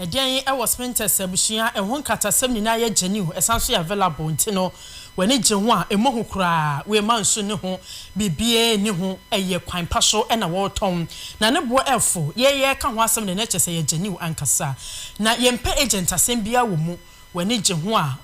Ɛdeɛn wɔ Spintex abusua a ɛho nkatasɛm nyinaa yɛ gyeniw ɛsan nso yɛ available nti no w'ani gye ho a ɛmmɔ hu koraa wei mma nsu nni ho biribiara nni ho ɛyɛ kwan pa so na wɔretɔn na ne boɔ ɛfo yɛ yɛreka ho asɛm deɛ na ɛkyerɛ sɛ yɛ gyeniw ankasa na yɛmpɛ agent asɛm biara wɔ mu w'ani gye ho a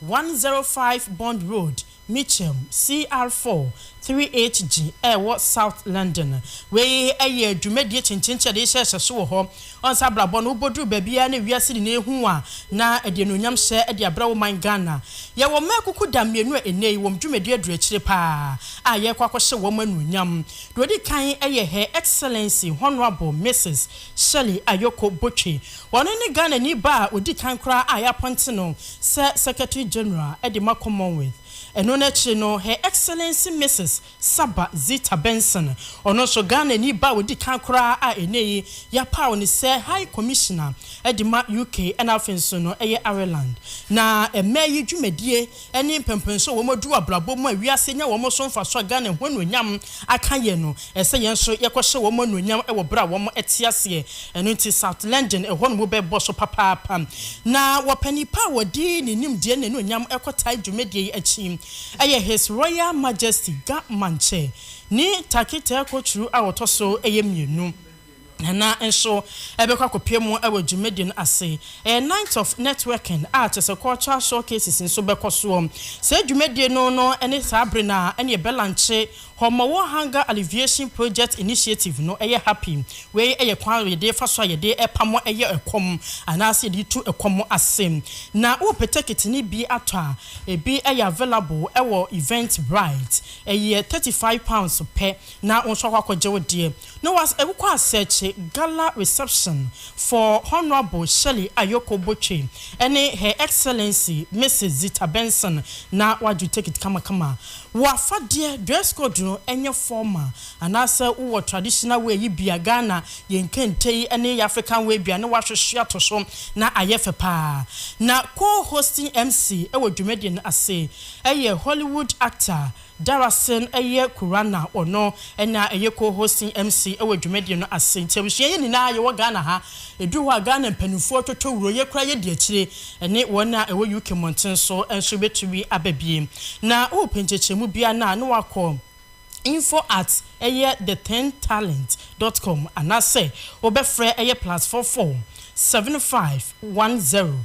One zero five Bond Road, Mitcham, CR four, three HG, a ɛwɔ South London. Wei yɛ dwumadie kyenkyenkyɛ de hyɛ hyɛso wɔ hɔ. Ɔnsa abrabɔ no, wobɔduru baabiara na wiase nyinaa ɛhu wo a, na ɛde anuonyam hyɛ de abrɛ wo man Ghana. Yɛwɔ mmaa akukuda mmienu a ɛnnɛ yi wɔn dwumadie aduru akyire paa a yɛrekɔ akɔhyɛ wɔn anuonyam. Deɛ ɔdi kan yɛ Her Excellency Honourable Mrs. Shirley Ayoko Botwe. Ɔno ne Ghanani ba a ɔdi kan koraa a yɛapɔnte no sɛ Secretary General de ma Commonwealth. Ɛno no akyire no, Her Excellency Mrs. Saba Zita Benson, ɔno nso Ghanani ba a ɔdi kan koraa a ɛnnɛ yi yɛapaw no sɛ High Commissioner de ma UK ɛna afei nso no ɛyɛ Ireland na ɛmɛ yi dwumadie ɛne mpɛnpɛnso a wɔadu abrabɔ mu a wiase anya wɔn so mfaso a Ghana ho anuonyam aka yɛn no, ɛsɛ sɛ yɛn nso yɛkɔhyɛ wɔn anuonyam wɔ bere a wɔte aseɛ. Ɛno nti South London hɔ no wobɛbɔ so papaapa. Na wɔpɛ nipa a wɔde ne nimdeɛ ne n'anuonyam kɔtae dwumadie yi akyi. Ɛyɛ His Royal Majesty Ga Mankyɛ ne Taketae Koturu a ɔtɔ so yɛ mmienu. Nana nso bɛkɔ akɔpue mu wɔ dwumadi no ase. Ɛyɛ Night of Networking a kyerɛ sɛ cultural showcases nso bɛkɔ soɔ. Saa dwumadie no no ne saa bere no a ɛne yɛbɛlankye Homowo Hunger Alleviation Project Initiative no yɛ happy. Wei yɛ kwan a yɛde fa so a yɛde pam yɛ ɛkɔm anaasɛ yɛde tu ɛkɔm ase. Na wopɛtɛ kit no bi atɔ a, ɛbi yɛ available wɔ Eventbrite. Ɛyɛ thirty five pounds pɛ na wo nso akɔ akɔgye wo deɛ. No was Ewuko Asekye Gala Reception for Honourable Shirley Ayoko Botwe ne Her Excellency Mrs Zita Benson na w'adwo take it kamakama. Wo afadeɛ, dress code no ɛnyɛ formal anaasɛ wo wɔ traditional wear yi bia Ghana yɛn kente yi ne yɛ African wear bia ne w'ahwehwe ato so na ayɛ fɛ paa. Na co-hosting MC wɔ dwumadie no ase yɛ Hollywood actor Darasin yɛ Kura na ɔno na ɛyɛ Co-Hosting MC wɔ dwumadie no ase nti abusua yɛ nyinaa yɛwɔ Ghana ha. Ɛduru hɔ a Ghana mpaninfoɔ totɔ wuro, yɛ koraa yɛdi akyire ɛne wɔn a ɛwɔ UK mmɔnten so nso bɛtumi aba bie. Na wo repɛ nkyɛkyɛmu biara no a na wakɔ info at ɛyɛ the ten talent dot com anaasɛ wo bɛfrɛ ɛyɛ plus four four seven five one zero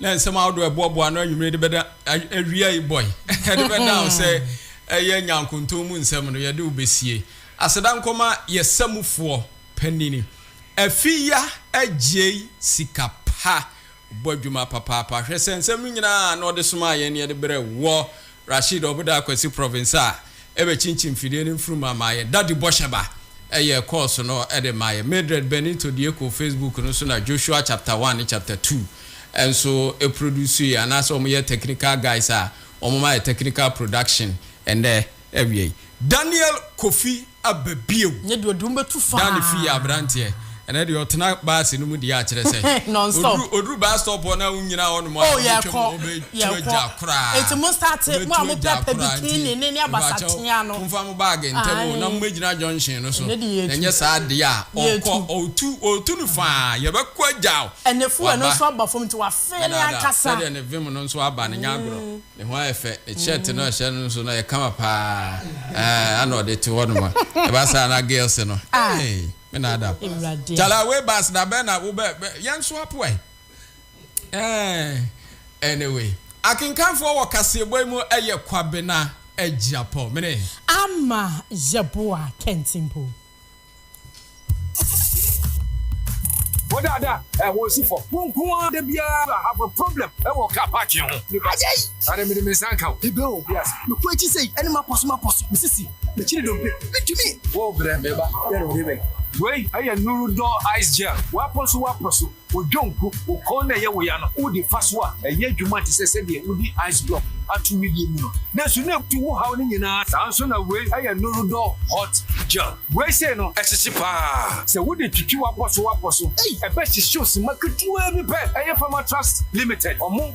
na nsɛm ahodoɔ a ɛboaboa ano anwummere de bɛda awia yi bɔ yi de bɛda wo sɛ ɛyɛ nyankontɔn mu nsɛm no yɛde wo bɛsie aseda nkɔma yɛ samufoɔ panini afiya agyei sika pa bɔ adwuma papaapa hwɛ sɛ nsɛm no nyinaa na ɔde somaa yɛn ne yɛde berɛ wɔ Rasheed Ɔboda Kwasi Province a ɛbɛkyinkyin mfidie no mfunumu ama ayɛ Daddy Bɔhyɛba yɛɛ kɔɔso no de maa yɛn Mildred Benito Dieko Facebook no so na Joshua Chapter One ne Chapter Two nso produsueɛ anaasɛ wɔyɛ technical guys a wɔma yɛ technical production ɛnnɛ awia yi. Daniel Kofi aba bio. Nyɛ deɛ ɔde wo bɛtu faa. Dani fi yɛ abranteɛ ɛnɛ deɛ ɔtena baase no mu deɛ akyerɛ sɛ oduru oduru bus stop hɔ na wonyina hɔ nom a oh yɛkɔ yɛkɔ ɔbɛtua gya koraa eti mo start mo a mo pɛpɛ bikini ne ne abasatea no nfa mo baage ntɛm o na mo bɛgyina junction no so na nyɛ saa deɛ a ɔkɔ ɔtu ɔtu no faa yɛbɛkɔ agya o ɛnɛ fuel no nso aba fam nti wafee ne ankasa sɛdeɛ ne vim no nso aba no nyɛ agorɔ. Ne ho ayɛ fɛ, ne shirt no a ɔhyɛ no nso no ayɛ kama paa, eh, ana ɔde te hɔ nom a, ɛba saa na girls no, ei, me na ada o. Chala, wei bus da bɛn na wo bɛ, bɛ, yɛn nso apoa yi, eh. Anyway, akenkanfoɔ wɔ kaseɛbɔ yi mu yɛ Kwabena Agyapong, mene. Ama Yeboah Kentsimpo. Wo dada ɛ wo si fɔ. Wo nko ara da biara have a problem wɔ car parking ho. Nipa sɛ yi. Ade mede me nsa nka o. Ebe o. Yes. Me kɔ akyi sɛ yi ɛne ma pɔso ma pɔso. Me sisi. Me kyiri dompe. Me tumi. Wo brɛ me ba. Yɛ no de bɛ. Wei ɛyɛ nuru dɔ ice gel. Wa pɔso wa pɔso. Wo dwonku, wo kɔn na ɛyɛ wo ya no, wode fa so a, ɛyɛ adwuma te sɛ sɛdeɛ wode ice block ato wedeɛ mu no, nanso na ɛtu wo haw no nyinaa. Saa nso na wei ɛyɛ Norodol Hot Gel. Wei sei no, ɛhyehye pa ara. Sɛ wode twitwi w'abɔso w'abɔso, ei, ɛbɛhyehye wo simma ketewaa bi pɛ. Ɛyɛ Pharmatrust Limited wɔn